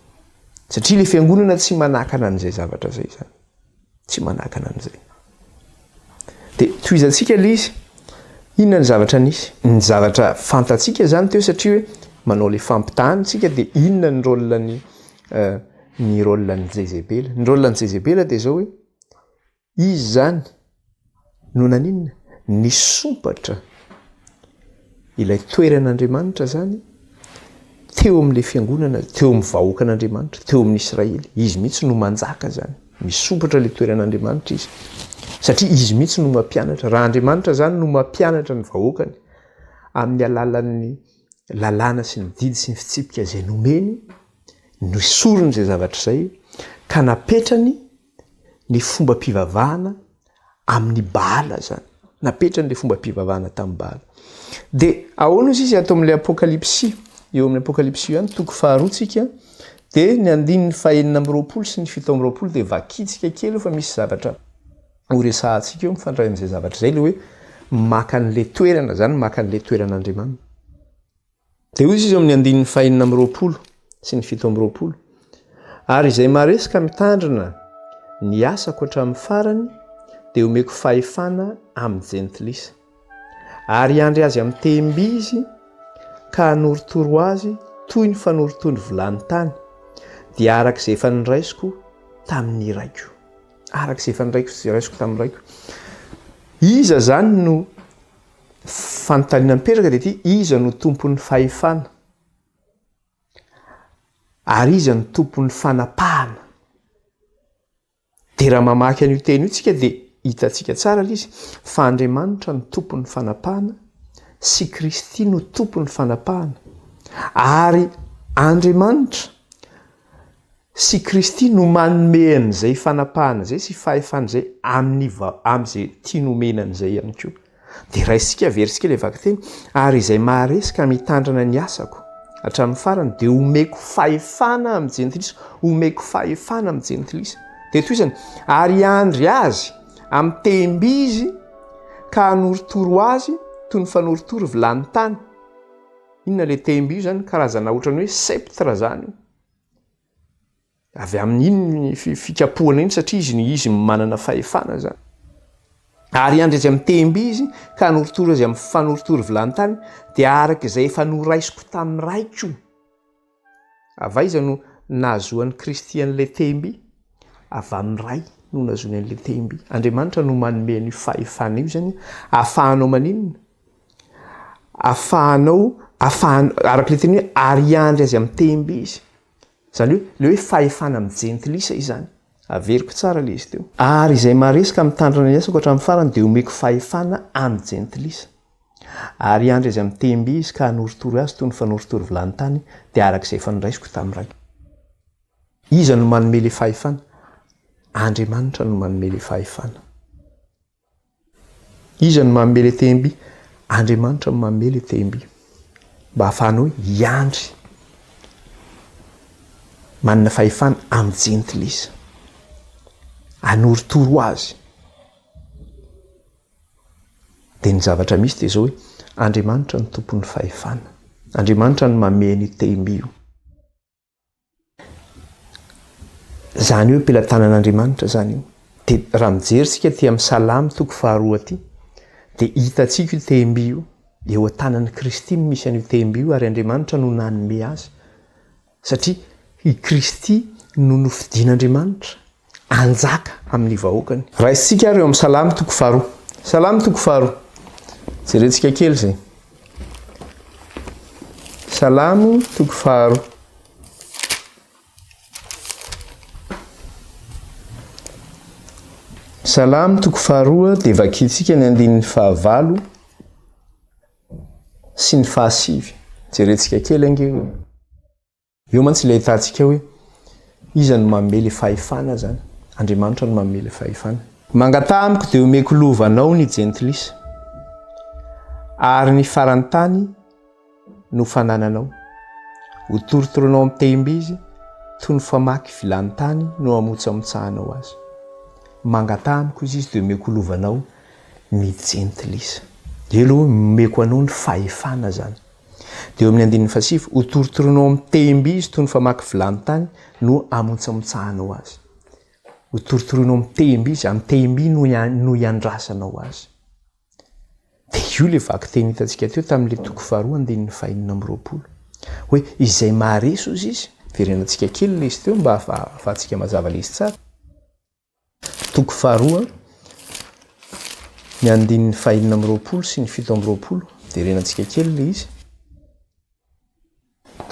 Satria ilay fiangonana tsy manakana an'izay zavatra izay izany. Tsy manakana an'izay. Dia tohizantsika ilay izy. Inona ny zavatra nisy? Ny zavatra fantatsika izany teo satria hoe manao ilay fampitahana isika dia inona ny rôle-n'ny ny rôle-n'i Jezebela? Ny rôle-n'i Jezebela dia izao hoe Izy izany no naninona? Nisompatra ilay toeran'Andriamanitra izany teo amin'ilay fiangonana, teo amin'ny vahoakan'Andriamanitra, teo amin'ny Israely. Izy mihitsy no manjaka izany. Misompatra ilay toeran'Andriamanitra izy, satria izy mihitsy no mampianatra. Raha Andriamanitra izany no mampianatra ny vahoakany amin'ny alalan'ny lalàna sy ny didy sy ny fitsipika izay nomeny, nesoriny izay zavatra izay ka napetrany, ny fombam-pivavahana amin'ny Baala zany. Napetrany le fombam-pivavahana tamin'ny Baala. De ahoana ozy izy ato amin'ilay Apokalypsy? Eo amin'ny Apokalypsy io ihany toko faharoa tsika de ny andininy fahenina amby roapolo sy ny fito amby roapolo de vakintsika kely eo fa misy zavatra horesahantsika eo mifandray amin'izay zavatra izay le hoe maka an'le toerana zany maka an'le toeran'Andriamanina. Dia hoy Izy eo amin'ny andininy fahenina amby roapolo sy ny fito amby roapolo, Ary izay maharesy ka mitandrina ny asako hatramin'ny farany dia homeko fahefana amin'ny jentilisa, ary hiandry azy amin'ny tehim-by izy ka hanorotoro azy toy ny fanorotony vilany tany, dia araka izay efa niraisiko tamin'ny raiko. Araka izay efa niraisiko tamin'ny raiko. Iza izany no Fanontaniana mipetraka dia ity, iza no tompon'ny fahefana? Ary iza no tompon'ny fanapahana? Dia raha mamaky an'io teny io isika dia hitantsika tsara ilay izy fa Andriamanitra no tompon'ny fanapahana sy Kristy no tompon'ny fanapahana. Ary Andriamanitra Sy Kristy no manome an'izay fanapahana izay sy fahefana izay amin'ny amin'izay tiany homena an'izay ihany koa. Dia raisintsika averintsika ilay vakiteny, Ary izay maharesy ka mitandrana ny asako hatramin'ny farany dia homeko fahefana amin'ny jentilisa, homeko fahefana amin'ny jentilisa. Dia tohizany, Ary hiandry azy amin'ny tehim-bizy ka hanorotoro azy toy ny fanorotoro vilany tany. Inona ilay tehim-bizy izany? Karazana ohatran'ny hoe sceptre izany io. Avy amin iny ny fikapohana iny satria izy no izy no manana fahefana zany. Ary andry azy amin'ny tehim-by izy ka hanorotoro azy amin'ny fanorotoro vilany-tany dia araka izay efa noraisiko tamin'ny Raiko. Avy aiza no nahazoan'i Kristy an'ilay tehim-by? Avy amin'ny Ray no nahazoany an'ilay tehim-by. Andriamanitra no manome an'io fahefana io izany ahafahanao maninona? afahanao afahan araka le teny hoe ariandry azy amin'ny tehimbe izy zany hoe le hoe fahefana amin'ny jentilisa izany averiko tsara le izy teo ary izay maresaka mitandrina ny asako hatramin'ny farany dia omeko fahefana amin'ny jentilisa ariandry azy amin'ny tehimbe izy ka hanoritory azy toy ny fanoritory vilany tany dia araka izay efa noraisiko tamin'ny ray iza no manome le fahefana andriamanitra no manome le fahefana Iza no manome ilay tehim-by? Andriamanitra no manome ilay tehim-by mba hahafahanao hiandry manana fahefana amin'ny jentilisa, hanorotoro azy. Dia ny zavatra misy dia izao hoe Andriamanitra no tompon'ny fahefana, Andriamanitra no manome an'io tehim-by io. Izany hoe pelatanan'Andriamanitra izany io. Dia raha mijery isika aty amin'ny Salamo toko faharoa aty, dia hitantsika io tehim-by io, eo an-tanan'i Kristy no misy an'io tehim-by io ary Andriamanitra no nanome azy. Satria i Kristy no nofidin'Andriamanitra hanjaka amin'ny vahoakany. Raisintsika ary eo amin'ny Salamo toko faharoa. Salamo toko faharoa. Jerentsika kely izay. Salamo toko faharoa. Salamo toko faharoa dia vakintsika ny andininy fahavalo sy ny fahasivy. Jerentsika kely ange. Eo mantsy ilay ahitantsika hoe iza no manome ilay fahefana zany. Andriamanitra no manome ilay fahefana. Mangataha amiko dia omeko lova anao ny jentilisa, ary ny faran'ny tany no fanananao. Hotorotoroinao amin'ny tehim-by izy, toy ny famaky vilany tany no hamotsamotsahanao azy. Mangataha amiko izy, izy dia omeko lova anao ny jentilisa. Elo, omeko anao ny fahefana zany. Dia eo amin'ny andininy fahasivy, Hotorotoroinao amin'ny tehim-by izy toy ny famaky vilany tany no hamontsamotsahanao azy. Hotorotoroinao amin'ny tehim-by izy, amin'ny tehim-by no no hiandrasanao azy. Dia io ilay vakiteny hitantsika teo tamin'ilay toko faharoa andininy fahenina amby roapolo. Hoe izay maharesy hozy izy, verenantsika kely ilay izy teo mba hahafahantsika mazava ilay izy tsara. Toko faharoa, ny andininy fahenina amby roapolo sy ny fito amby roapolo, derenantsika kely ilay izy.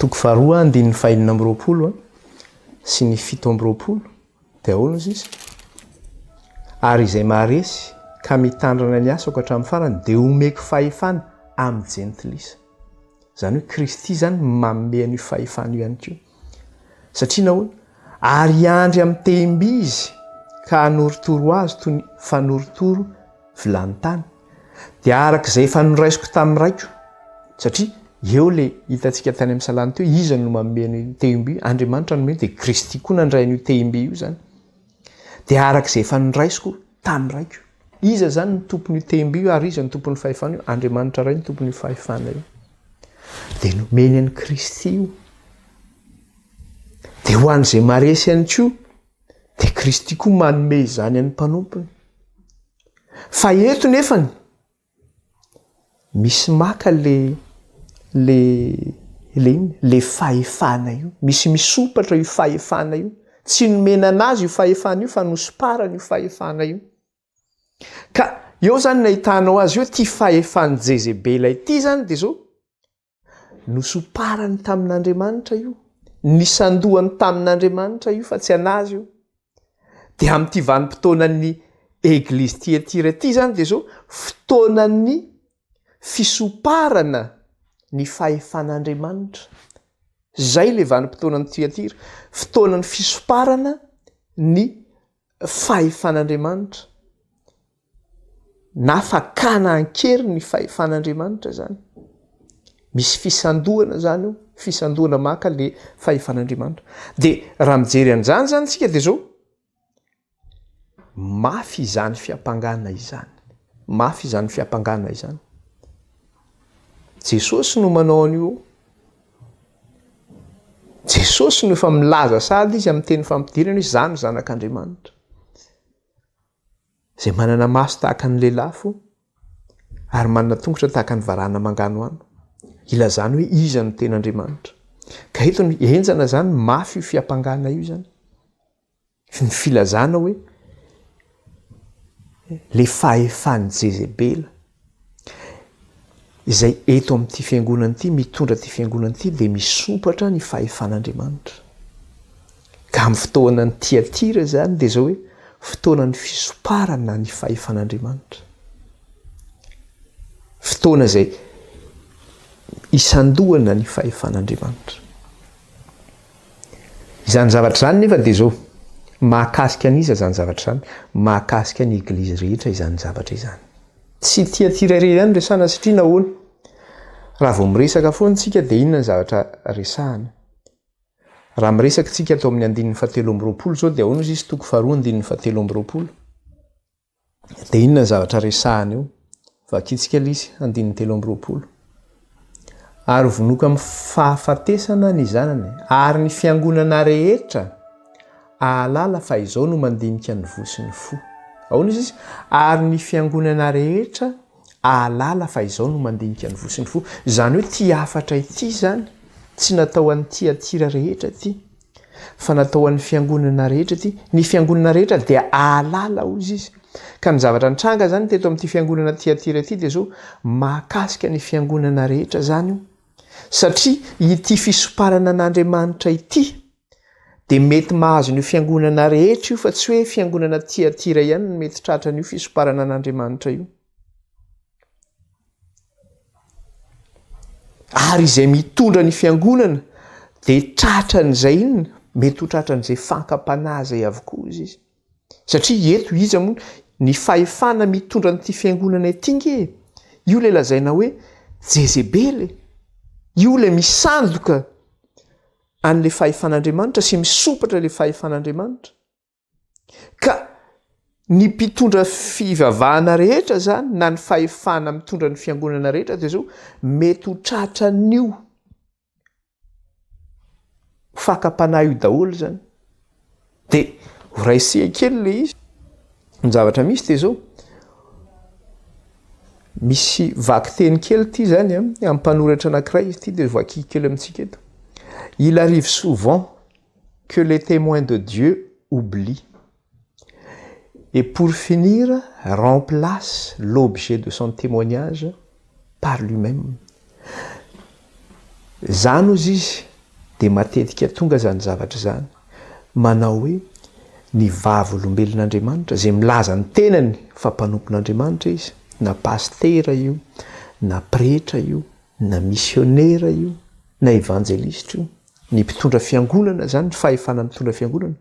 Toko faharoa, andininy fahenina amby roapolo sy ny fito amby roapolo, dia ahoana izy izy? Ary izay maharesy ka mitandrina ny asako hatramin'ny farany dia homeko fahefana amin'ny jentilisa. Izany hoe Kristy izany manome an'io fahefana io ihany koa. Satria nahoana? Ary hiandry amin'ny tehim-by izy ka hanorotoro azy toy ny fanorotoro vilany tany. Dia araka izay efa noraisiko tamin'ny raiko. Satria eo le hitantsika tany amin'ny salany teo, iza no manome ny tehim-by? Andriamanitra no manome, dia Kristy koa nandray an'io tehim-by io izany. Dia araka izay efa noraisiko tamin'ny raiko. Iza izany ny tompon'io tehimby io ary iza ny tompon'ny fahefana io? Andriamanitra Ray no tompon'io fahefana io. Dia nomeny an'i Kristy io. Dia ho an'izay maresy ihany koa, dia Kristy koa manome izany an'ny mpanompony. Fa eto nefany, Misy maka le le le inn le fahefana io, misy misopatra io fahefana io, tsy nomena anazy io fahefana io fa nosparany io fahefana io, ka eo zany ny ahitanao azy eo ity fahefan'i jezebela ity zany de zao, Nosomparany tamin'Andriamanitra io, nisandohany tamin'Andriamanitra io fa tsy an'azy io. Dia amin'ity vanim-potoanan'ny Eglizy Tiatira ity izany dia izao fotoanan'ny fisomparana ny fahefan'Andriamanitra. Izay ilay vanim-potoanan'i Tiatira, fotoanan'ny fisomparana ny fahefan'Andriamanitra na fakana an-keriny ny fahefan'Andriamanitra izany. Misy fisandohana izany eo, fisandohana maka ilay fahefan'Andriamanitra. Dia raha mijery an'izany izany isika dia izao, mafy izany fiampangana izany, mafy izany fiampangana izany. Jesosy no manao an'io. Jesosy no efa milaza sady izy amin'ny teny fampidirana hoe za no zanak'Andriamanitra. Izay manana maso tahaka ny lelafo ary manana tongotra tahaka ny varahana manganohano ilazany hoe iza no tena Andriamanitra. Ka eto ny henjana zany mafy io fiampangana io zany. Ny filazana hoe ilay fahefan'i Jezebela izay eto amin'ity fiangonana ity, mitondra ity fiangonana ity dia misompatra ny fahefan'Andriamanitra. Ka amin'ny fotoanan'ny Tiatira izany dia izao hoe fotoanan'ny fisomparana ny fahefan'Andriamanitra. Fotoana izay isandohana ny fahefan'Andriamanitra. Izany zavatra izany nefa dia izao, mahakasika an'iza izany zavatra izany? Mahakasika ny Eglizy rehetra izany zavatra izany. Tsy ity aty iray irery ihany no resahana satria nahoana? Raha vao miresaka foana isika dia inona ny zavatra resahana? Raha miresaka isika ato amin'ny andininy fahatelo amby roapolo izao dia ahoana hozy izy toko faharoa andininy fahatelo amby roapolo? Dia inona ny zavatra resahana eo? Vakitsika lisy andininy telo amby roapolo. Ary vonoiko amin'ny fahafatesana ny zanany, ary ny fiangonana rehetra ahalala fa izao no mandinika ny voa sy ny fo. Ahoana izy izy? Ary ny fiangonana rehetra ahalala fa izao no mandinika ny voa sy ny fo. Izany hoe ity hafatra ity izany, tsy natao an'i Tyatira rehetra ity, Fa natao ho an'ny Fiangonana rehetra ity. Ny Fiangonana rehetra dia hahalala, hoy izy. Ka ny zavatra nitranga izany teto amin'ity Fiangonana Tyatira ity dia izao, mahakasika ny Fiangonana rehetra izany io. Satria ity fisomparana an'Andriamanitra ity dia mety mahazo an'io Fiangonana rehetra io fa tsy hoe Fiangonana Tyatira ihany no mety tratran'io fisomparana an'Andriamanitra io. Ary izay mitondra ny fiangonana dia tratran'izay inona? Mety ho tratran'izay fankam-panahy izay avokoa hoy izy. Satria eto iza moa ny fahefana mitondra an'ity fiangonana ity nge e? Io ilay lazaina hoe Jezebela e! Io ilay misandoka an'ilay fahefan'Andriamanitra sy misompatra ilay fahefan'Andriamanitra. Ka ny mpitondra fivavahana rehetra izany na ny fahefana mitondra ny fiangonana rehetra dia zao mety ho tratra an'io fakam-panahy io daholo izany. Dia ho raisihako kely ilay izy. Ny zavatra misy dia zao. Misy vakiteny kely ity izany amin'ny mpanoratra anankiray ity dia vakiko kely amintsika eto. Il arrive souvent Que les Témoins de Dieu oublient et pour finir remplace l'objet de son témoignage par lui-même zany ozy izy dia matetika tonga zany zavatra zany manao hoe ny vavolombelon'Andriamanitra zay milaza ny tenany fa mpanompon'Andriamanitra izy na pastera io na pretra io na misionera io na evanjelistra io ny mpitondra fiangonana zany ny fahefana mitondra fiangonana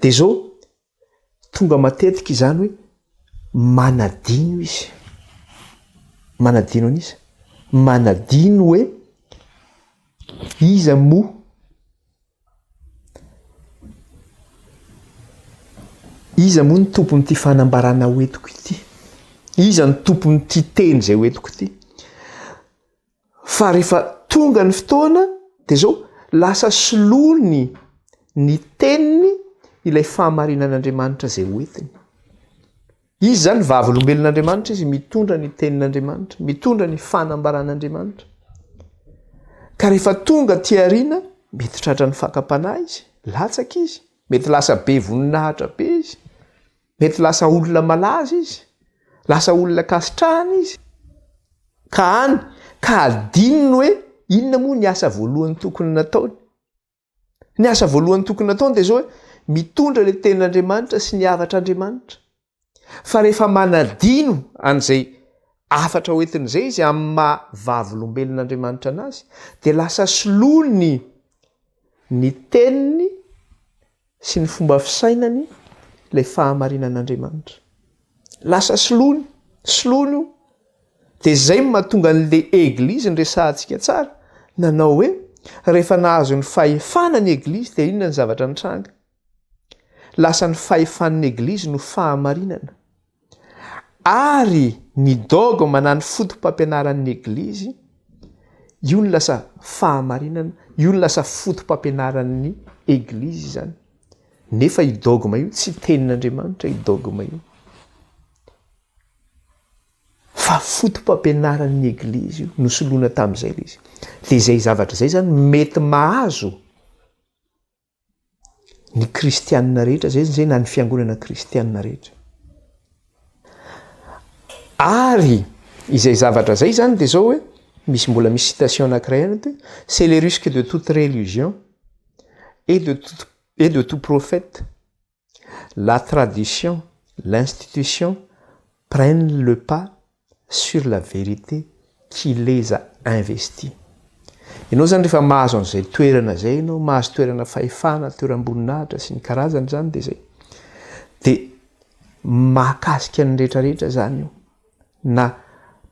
de zao tonga matetika izany hoe manadino izy manadino an'iza manadino hoe iza mo iza moa ny tompony ty fanambarana hoetiko ity iza ny tompony ty teny zay hoetiko ity Fa rehefa tonga ny fotoana dia izao, lasa solony ny teniny ilay fahamarinan'Andriamanitra izay ho entiny. Izy izany vavolombelon'Andriamanitra izy mitondra ny tenin'Andriamanitra, mitondra ny fanambaran'Andriamanitra. Ka rehefa tonga aty aoriana, mety tratran'ny fakam-panahy izy, latsaka izy, mety lasa be voninahitra be izy. Mety lasa olona malaza izy, lasa olona ankasitrahana izy, ka any ka adinony hoe inona moa ny asa voalohany tokony nataony. Ny asa voalohany tokony nataony dia izao hoe mitondra ilay Tenin'Andriamanitra sy ny havatr'Andriamanitra. Fa rehefa manadino an'izay hafatra hoentiny izay izy amin'ny maha vavolombelon'Andriamanitra anazy dia lasa soloany ny Teniny, sy ny fomba fisainany ilay fahamarinan'Andriamanitra. Lasa solony, solony io. Dia izay no mahatonga an'le Eglizy niresahantsika tsara nanao hoe rehefa nahazo ny fahefana ny Eglizy dia inona ny zavatra nitranga? Lasa ny fahefan'ny Eglizy no fahamarinana. Ary ny dogme na ny fotopampianaran'ny Eglizy, io no lasa fahamarinana, io no lasa fotopampianaran'ny Eglizy izany. Nefa io dogme io tsy tenin'Andriamanitra io dogme io. Fa fotopampianaran'ny Eglizy io, nosoloina tamin'izay ilay izy. Dia izay zavatra izay izany mety mahazo. ny kristianina rehetra zay zay na ny fiangonana kristianina rehetra ary izay zavatra zay zany de zao hoe misy mbola misy citation anakiray any hoe c'est le risque de toute religion et de toute et de tout prophète la tradition, l'institution prennent le pas sur la vérité qui les a investis. Ianao izany rehefa mahazo an'izay toerana izay ianao, mahazo toerana fahefana, toeram-boninahitra sy ny karazany izany dia izay. Dia mahakasika ny rehetra rehetra izany io. na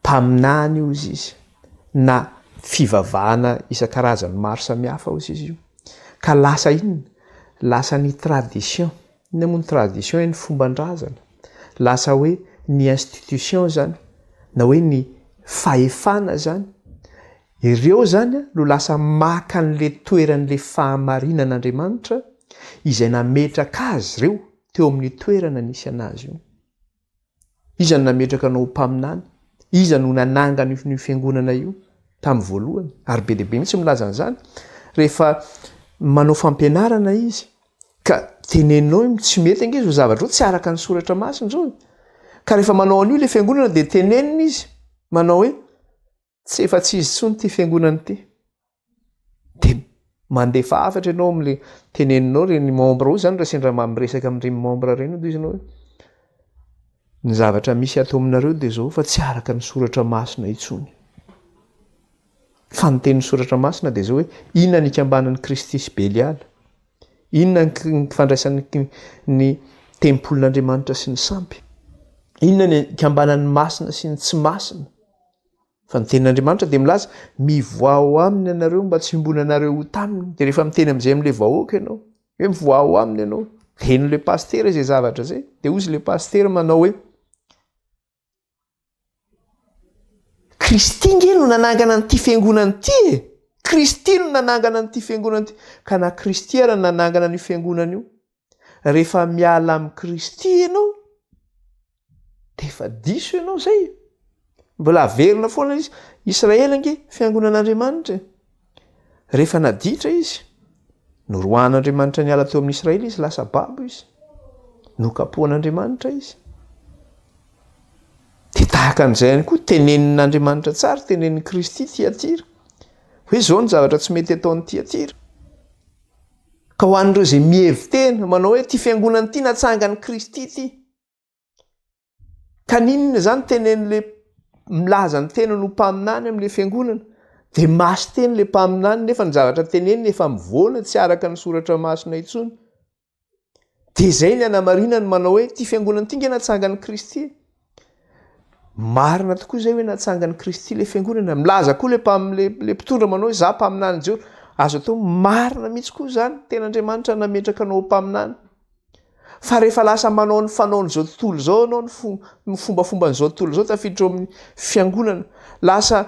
mpaminany ozy izy, na fivavahana isan-karazany maro samihafa ozy izy io, ka lasa inona? lasa ny tradition, inona moa ny tradition? ny fomban-drazana, lasa hoe ny institution izany na hoe ny fahefana izany, ireo izany no lasa maka an'le toeran'le fahamarinana Andriamanitra izay nametraka azy ireo teo amin'ny toerana nisy anazy io. Iza no nametraka anao ho mpaminany? Iza no nanangana io io fiangonana io tamin'ny voalohany? Ary be dia be mihitsy milaza an'izany. Rehefa manao fampianarana izy ka tenenina hoe tsy mety ange izao zavatra izao, tsy araka ny soratra masina izao e! Ka rehefa manao an'io ilay fiangonana dia tenenina izy manao hoe tsy efa tsy izy intsony ity fiangonana ity dia mandefa hafatra ianao amin'ilay teneninao reny membre ao izany raha sendra mba miresaka amin'ireny membre ireny aloha izy ianao ny zavatra misy ato aminareo dia izao fa tsy araka ny soratra masina intsony fa ny tenin'ny soratra masina dia izao hoe inona ny ikambanan'i kristy sy beliala inona ny fandraisan'ny ny tempolin'andriamanitra sy ny sampy inona ny ikambanan'ny masina sy ny tsy masina Fa ny tenin'Andriamanitra dia milaza, Mivoaha aminy ianareo mba tsy hiombonanareo ho taminy. Dia rehefa miteny amin'izay amin'ilay vahoaka ianao, hoe mivoaha aminy ianao, dia henon'ilay pasitera izay zavatra izay. Dia hozy ilay pasitera manao hoe, Kristy nge no nanangana an'ity fiangonana ity e! Kristy no nanangana an'ity fiangonana ity. Ka na Kristy ara no nanangana an'io fiangonana io, rehefa miala amin'i Kristy ianao dia efa diso ianao izay. Mbola averina foana izy. Israely ange fiangonan'Andriamanitra. Rehefa naditra izy, noroahan'Andriamanitra niala teo amin'ny Israely izy, lasa babo izy. Nokapohan'Andriamanitra izy. Dia tahaka an'izay ihany koa tenenin'Andriamanitra tsara, tenenin'i Kristy Tiatira. Hoe izao ny zavatra tsy mety ataon'i Tiatira. Ka ho an'ireo izay mihevi-tena manao hoe ity fiangonana ity natsangan'i Kristy ity, ka n'inona izany tenen'ilay milaza ny tenany ho mpaminany amin'ilay fiangonana, dia masin-teny ilay mpaminany nefa ny zavatra teneniny efa mivoana tsy araka ny soratra masina intsony. Dia izay ny anamarinany manao hoe ity fiangonana ity nge natsangan'i Kristy e. Marina tokoa izay hoe natsangan'i Kristy ilay fiangonana. Milaza koa ilay mpamin'ilay ilay mpitondra manao hoe za mpaminany Jehovah. Azo atao marina mihitsy koa izany, tena Andriamanitra nametraka anao ho mpaminany. Fa rehefa lasa manao ny fanaon'izao tontolo izao ianao ny fo- ny fombafomban'izao tontolo izao tafiditra ao amin'ny fiangonana, lasa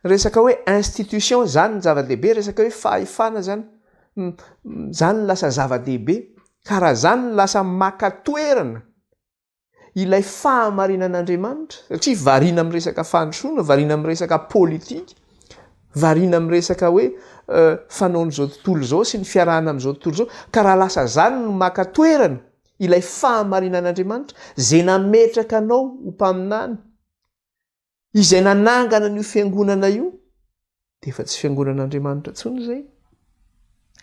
resaka hoe institution izany ny zava-dehibe, resaka hoe fahefana izany. Izany no lasa zava-dehibe, ka raha izany no lasa maka toerana ilay fahamarinan'Andriamanitra, satria variana amin'ny resaka fandrosoana, variana amin'ny resaka politika, variana amin'ny resaka hoe fanaon'izao tontolo izao sy ny fiarahana amin'izao tontolo izao, ka raha lasa izany no maka toerana ilay fahamarinan'Andriamanitra, izay nametraka anao ho mpaminany, Izay nanangana an'io fiangonana io dia efa tsy fiangonan'Andriamanitra intsony izay.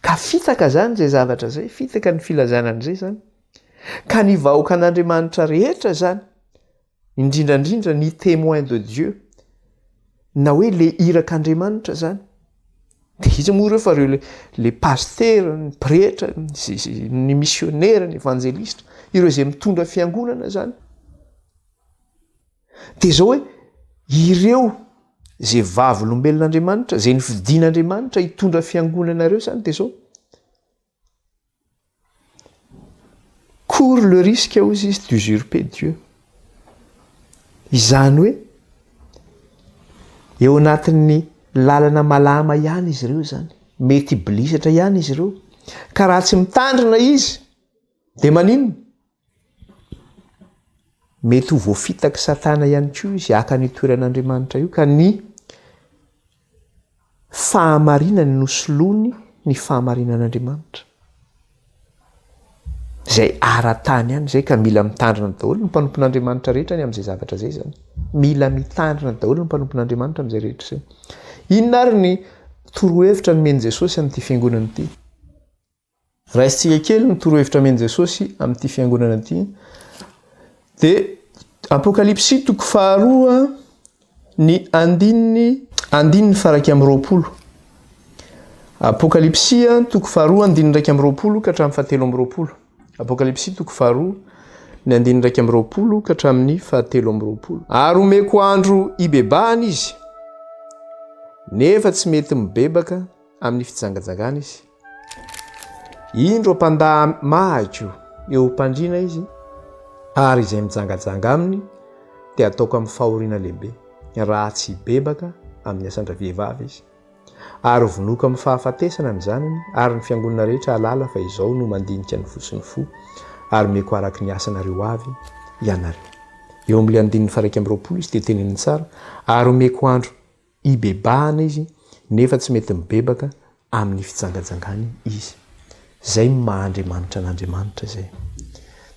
Ka fitaka izany izay zavatra izay, fitaka ny filazana an'izay izany. Ka ny vahoakan'Andriamanitra rehetra izany, indrindra indrindra ny témoin de Dieu, na hoe le irak'Andriamanitra izany, dia iza moa ireo fa ireo le, le pasitera, ny pretra, ny misionera, ny evanjelista, ireo izay mitondra fiangonana izany. Dia izao hoe, ireo izay vavolombelon'Andriamanitra, izay nifidin'Andriamanitra hitondra fiangonana ireo izany dia izao. Cours le risque hozy izy d'usurper Dieu. Izany hoe, eo anatin'ny lalana malama ihany izy ireo izany. Mety hibilisatra ihany izy ireo. Ka raha tsy mitandrina izy, dia maninona? Mety ho voafitak'i Satana ihany koa izy haka an'io toeran'Andriamanitra io, ka ny fahamarinany no soloany ny fahamarinan'Andriamanitra. Izay ara-tany ihany izay ka mila mitandrina daholo ny mpanompon'Andriamanitra rehetra ny amin'izay zavatra izay zany. Mila mitandrina daholo ny mpanompon'Andriamanitra amin'izay rehetra izay. Inona ary ny torohevitra nomen'i Jesosy amin'ity fiangonana ity? Raisintsika kely ny torohevitra amen'i Jesosy amin'ity fiangonana ity. Dia Apokalypsy toko faharoa ny andininy andininy faraika amin'ny roapolo. Apokalypsy toko faharoa andininy iraika amin'ny roapolo ka hatramin'ny fahatelo amin'ny roapolo. Apokalypsy toko faharoa ny andininy iraika amin'ny roapolo ka hatramin'ny fahatelo amin'ny roapolo. Ary omeko andro hibebahana izy, nefa tsy mety mibebaka amin'ny fijangajangana izy. Indro mpandà mahako eo am-pandriana izy, ary izay mijangajanga aminy dia ataoko amin'ny fahoriana lehibe, raha tsy hibebaka amin'ny asan-dravehivavy izy. Ary hovonoiko amin'ny fahafatesana ny zanany, ary ny fiangonana rehetra hahalala fa izao no mandinika ny fo sy ny fo, ary omeko araka ny asanareo avy ianareo. Eo amin'ilay andininy faha-iraika amby roapolo izy dia teneniny tsara, ary omeko andro Hibebahana izy nefa tsy mety mibebaka amin'ny fijangajangany izy. Izay ny maha Andriamanitra an'Andriamanitra izay.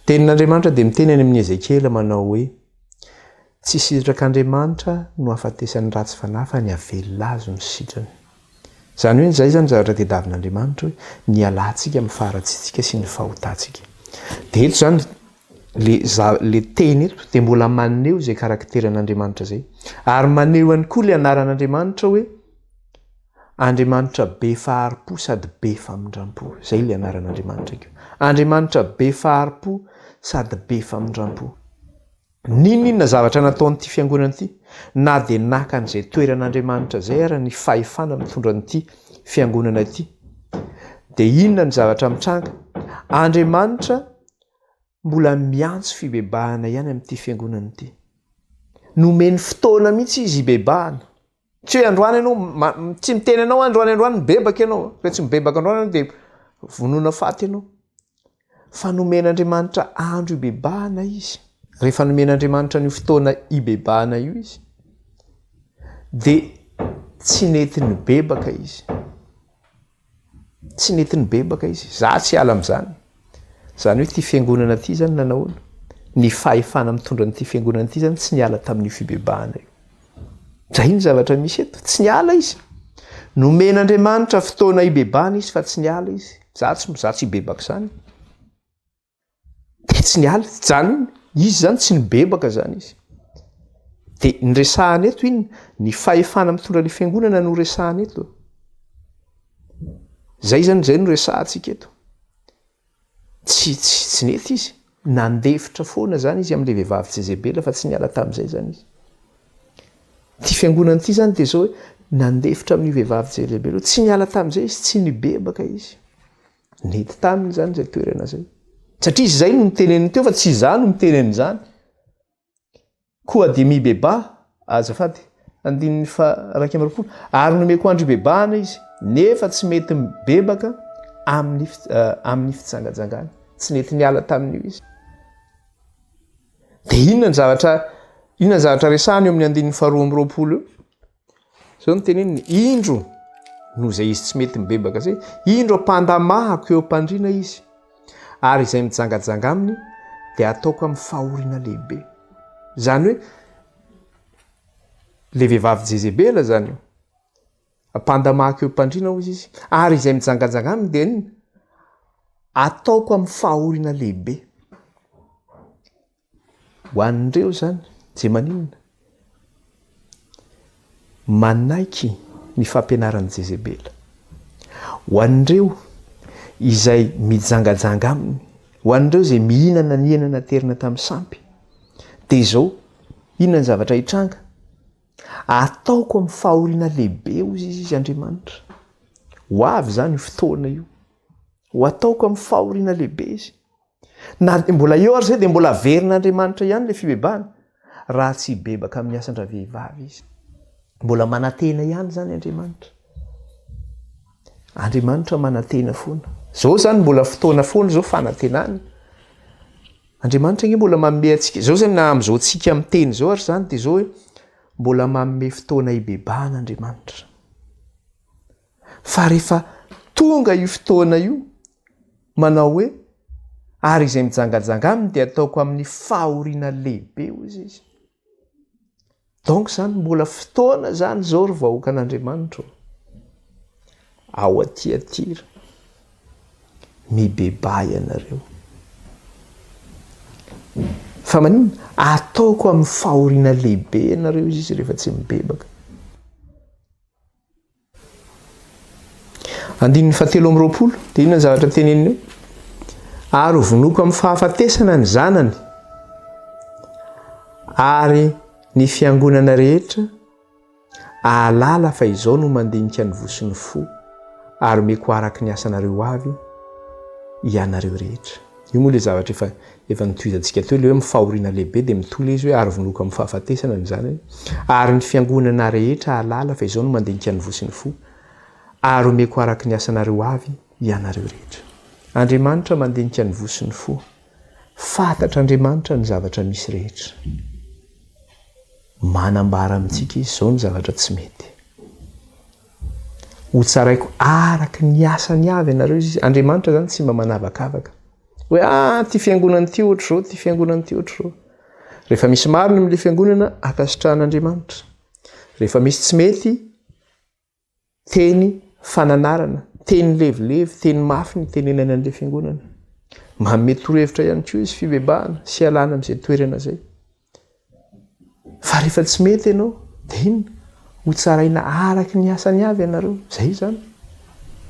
Tenin'Andriamanitra dia miteny any amin'i Ezekiela manao hoe, Tsy sitrak'Andriamanitra no ahafatesan'ny ratsy fanahy fa ny havelona azy no sitrany. Izany hoe izay izany zavatra tediavin'Andriamanitra hoe ny hialantsika amin'ny faharatsiantsika sy ny fahotantsika. Dia eto izany Ilay za, ilay teny eto dia mbola maneho izay karakteran'Andriamanitra izay. Ary maneho ihany koa ilay anaran'Andriamanitra hoe Andriamanitra be fahari-po sady be famindram-po. Izay ilay anaran'Andriamanitra io. Andriamanitra be fahari-po sady be famindram-po. N'inon'inona zavatra nataon'ity fiangonana ity, na dia naka an'izay toeran'Andriamanitra izay ary ny fahefana mitondra an'ity fiangonana ity, dia inona ny zavatra mitranga? Andriamanitra mbola miantso fibebahana ihany amin'ity fiangonana ity. Nomeny fotoana mihitsy izy hibebahana. Tsy hoe androany ianao, tsy miteny anao androany androany mibebaka ianao, rehefa tsy mibebaka androany ianao dia vonoina faty ianao. Fa nomen'Andriamanitra andro hibebahana izy. Rehefa nomen'Andriamanitra an'io fotoana hibebahana io izy, dia tsy nety nibebaka izy. Tsy nety nibebaka izy. Za tsy hiala amin'izany. Izany hoe ity fiangonana ity izany nanahoana? Ny fahefana mitondra an'ity fiangonana ity izany tsy niala tamin'io fibebahana io. Izay no zavatra misy eto. Tsy niala izy. Nomen'Andriamanitra fotoana hibebahana izy fa tsy niala izy. Za tsy za tsy hibebaka izany. Tetsy ny ala, zany izy zany tsy nibebaka zany izy. De ny resahana eto inn, ny fahefana mitondra ny fiangonana no resahana eto. Zay zany zay no resahantsika eto. Tsy tsy tsy nety izy, nandefitra foana zany izy amle vehivavy Jezebela fa tsy niala tamzay zany izy. Ty fiangonana ty zany de zao hoe nandefitra amin'io vehivavy Jezebela io, tsy niala tamzay izy, tsy nibebaka izy. Nety taminy izany izay toerana izay. Satria izay no niteneniny teo fa tsy izaho no miteny an'izany. Koa dia mibebaha, azafady, andininy faha iraika amby roapolo, ary nomeko andro hibebahana izy, nefa tsy mety mibebaka amin'ny amin'ny fijangajangana. Tsy nety niala tamin'io izy. Dia inona ny zavatra inona ny zavatra resahana eo amin'ny andininy faharoa amby roapolo eo? Zao no teneniny, indro, noho izay izy tsy mety mibebaka izay, indro ampandamahako eo am-pandriana izy, ary izay mijangajanga aminy dia hataoko amin'ny fahoriana lehibe. Izany hoe, le vehivavy Jezebela izany io. Ampandamahako eo am-pandriana hoy izy, ary izay mijangajanga aminy dia ataoko amin'ny fahoriana lehibe. Ho an'ireo izany dia maninona? Manaiky ny fampianaran'i Jezebela. Ho an'ireo izay mijangajanga aminy, ho an'ireo izay mihinana ny hena naterina tamin'ny sampy, dia izao, inona ny zavatra hitranga? Ataoko amin'ny fahoriana lehibe, hoy izy, izy Andriamanitra. Ho avy izany io fotoana io. Ho ataoko amin'ny fahoriana lehibe izy. Na dia mbola eo aza dia mbola averin'Andriamanitra ihany ilay fibebahana raha tsy hibebaka amin'ny asan-dravehivavy izy. Mbola manantena ihany izany Andriamanitra. Andriamanitra manantena foana. Izao izany mbola fotoana foana izao fanantenana. Andriamanitra nge mbola manome antsika. Izao izany na amin'izao antsika miteny izao ary izany dia izao hoe mbola manome fotoana hibebahana Andriamanitra. Fa rehefa tonga io fotoana io Manao hoe, Ary izay mijangajanga aminy dia ataoko amin'ny fahoriana lehibe, hoy izy. Donc izany mbola fotoana izany izao ry vahoakan'Andriamanitra ô! Ao Tiatira, mibebaha ianareo. Fa maninona? Ataoko amin'ny fahoriana lehibe ianareo, hoy izy, rehefa tsy mibebaka. Andininy fahatelo amby roapolo, dia inona ny zavatra teneniny eo? Ary ho vonoiko amin'ny fahafatesana ny zanany, ary ny fiangonana rehetra ahalala fa izao no mandinika ny vosin'ny fo, ary meko araka ny asanareo avy ianareo rehetra. Io moa ilay zavatra efa Efa notohizantsika teo ilay hoe amin'ny fahoriana lehibe dia mitohy ilay izy hoe ary vonoiko amin'ny fahafatesana ny zanany ary ny fiangonana rehetra hahalala fa izao no mandinika ny voa sy ny fo ary homeko araka ny asanareo avy ianareo rehetra. Andriamanitra mandinika ny voa sy ny fo. Fantatr'Andriamanitra ny zavatra misy rehetra. Manambara amintsika izy izao ny zavatra tsy mety. Hotsaraiko araka ny asany avy ianareo izy. Andriamanitra izany tsy mba manavakavaka. Hoe ah, ah ity fiangonana ity ohatr'izao, ity fiangonana ity ohatr'izao. Rehefa misy marina amin'ilay fiangonana, ankasitrahan'Andriamanitra. Rehefa misy tsy mety, teny fananarana, teny levilevy, teny mafy ny tenenana an'ilay fiangonana. Manome torohevitra ihany koa izy fibebahana sy alàna amin'izay toerana izay. Fa rehefa tsy mety ianao, dia inona? Ho tsaraina araka ny asany avy ianareo. Izay izany.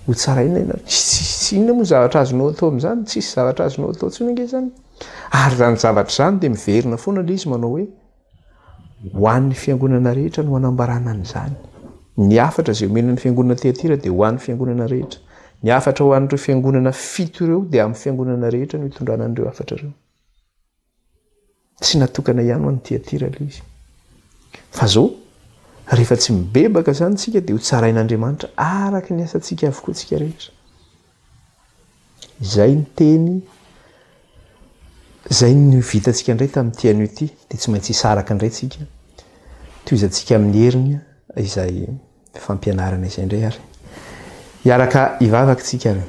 Ho tsaraina ianareo. Tsy inona moa zavatra azonao atao amin'izany? Tsisy zavatra azonao atao intsony ange izany. Ary izany zavatra izany dia miverina foana ilay izy manao hoe, ho an'ny fiangonana rehetra no hanambarana an'izany. Ny hafatra izay omena ny fiangonana Tiatira dia ho an'ny fiangonana rehetra. Ny hafatra ho an'ireo fiangonana fito ireo dia amin'ny fiangonana rehetra no hitondrana an'ireo hafatra ireo. Tsy natokana ihany ho an'i Tyatira ilay izy. Fa izao, rehefa tsy mibebaka izany isika dia ho tsarain'Andriamanitra araka ny asantsika avokoa isika rehetra. Izay ny teny, izay ny vitantsika indray tamin'ity anio ity, dia tsy maintsy hisaraka indray isika. Tohizantsika amin'ny heriny izay fampianarana izay indray ary. Hiaraka hivavaka isika ary.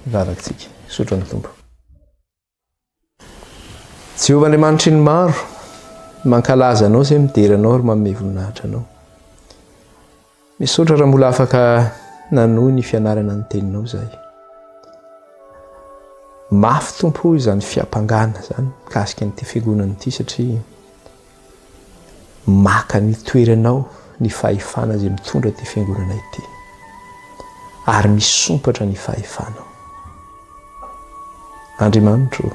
Hivavaka isika. Sotro amin'ny Tompo. Jehovah Andriamanitry ny maro, mankalaza anao izay midera anao ary manome voninahitra anao. Misaotra raha mbola afaka nanohy ny fianarana ny teninao izay. Mafy tompo izany fiampangana izany mikasika an'ity fiangonana ity satria Maka ny toerany ao ny fahefana izay mitondra ity fiangonana ity. Ary misompatra ny fahefanao. Andriamanitro,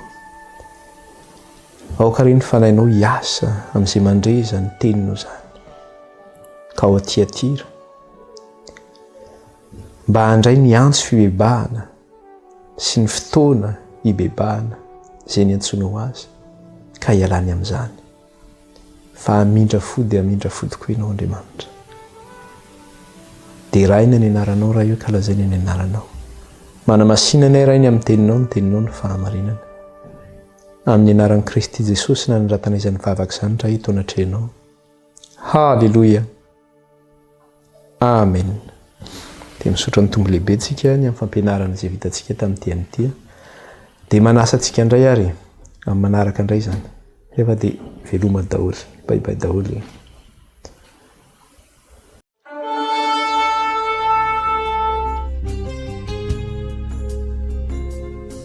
aoka re ny fanahinao hiasa amin'izay mandre izany teninao izany. Ka ao Tiatira, Mba handray ny antso fibebahana sy ny fotoana hibebahana izay niantsoanao azy, ka hialany amin'izany. Fa hamindra fo dia hamindra fo tokoa Ianao, Andriamanitra. Deraina ny Anaranao, Ray o, ka lazaina ny Anaranao. Manamasina anay, Ray, ny amin'ny Teninao, ny Teninao no fahamarinana. Amin'ny Anaran'i Kristy Jesosy no nanoratanay izany vavaka izany, Ray, eto anatrehanao. Haleloia! Amen! Dia misaotra ny Tompo lehibe tsika ny amin'ny fampianarana izay vitantsika tamin'ity amin'ity. Dia manasa antsika indray ary amin'ny manaraka indray izany. Rehefa dia veloma daholo, bye bye daholo.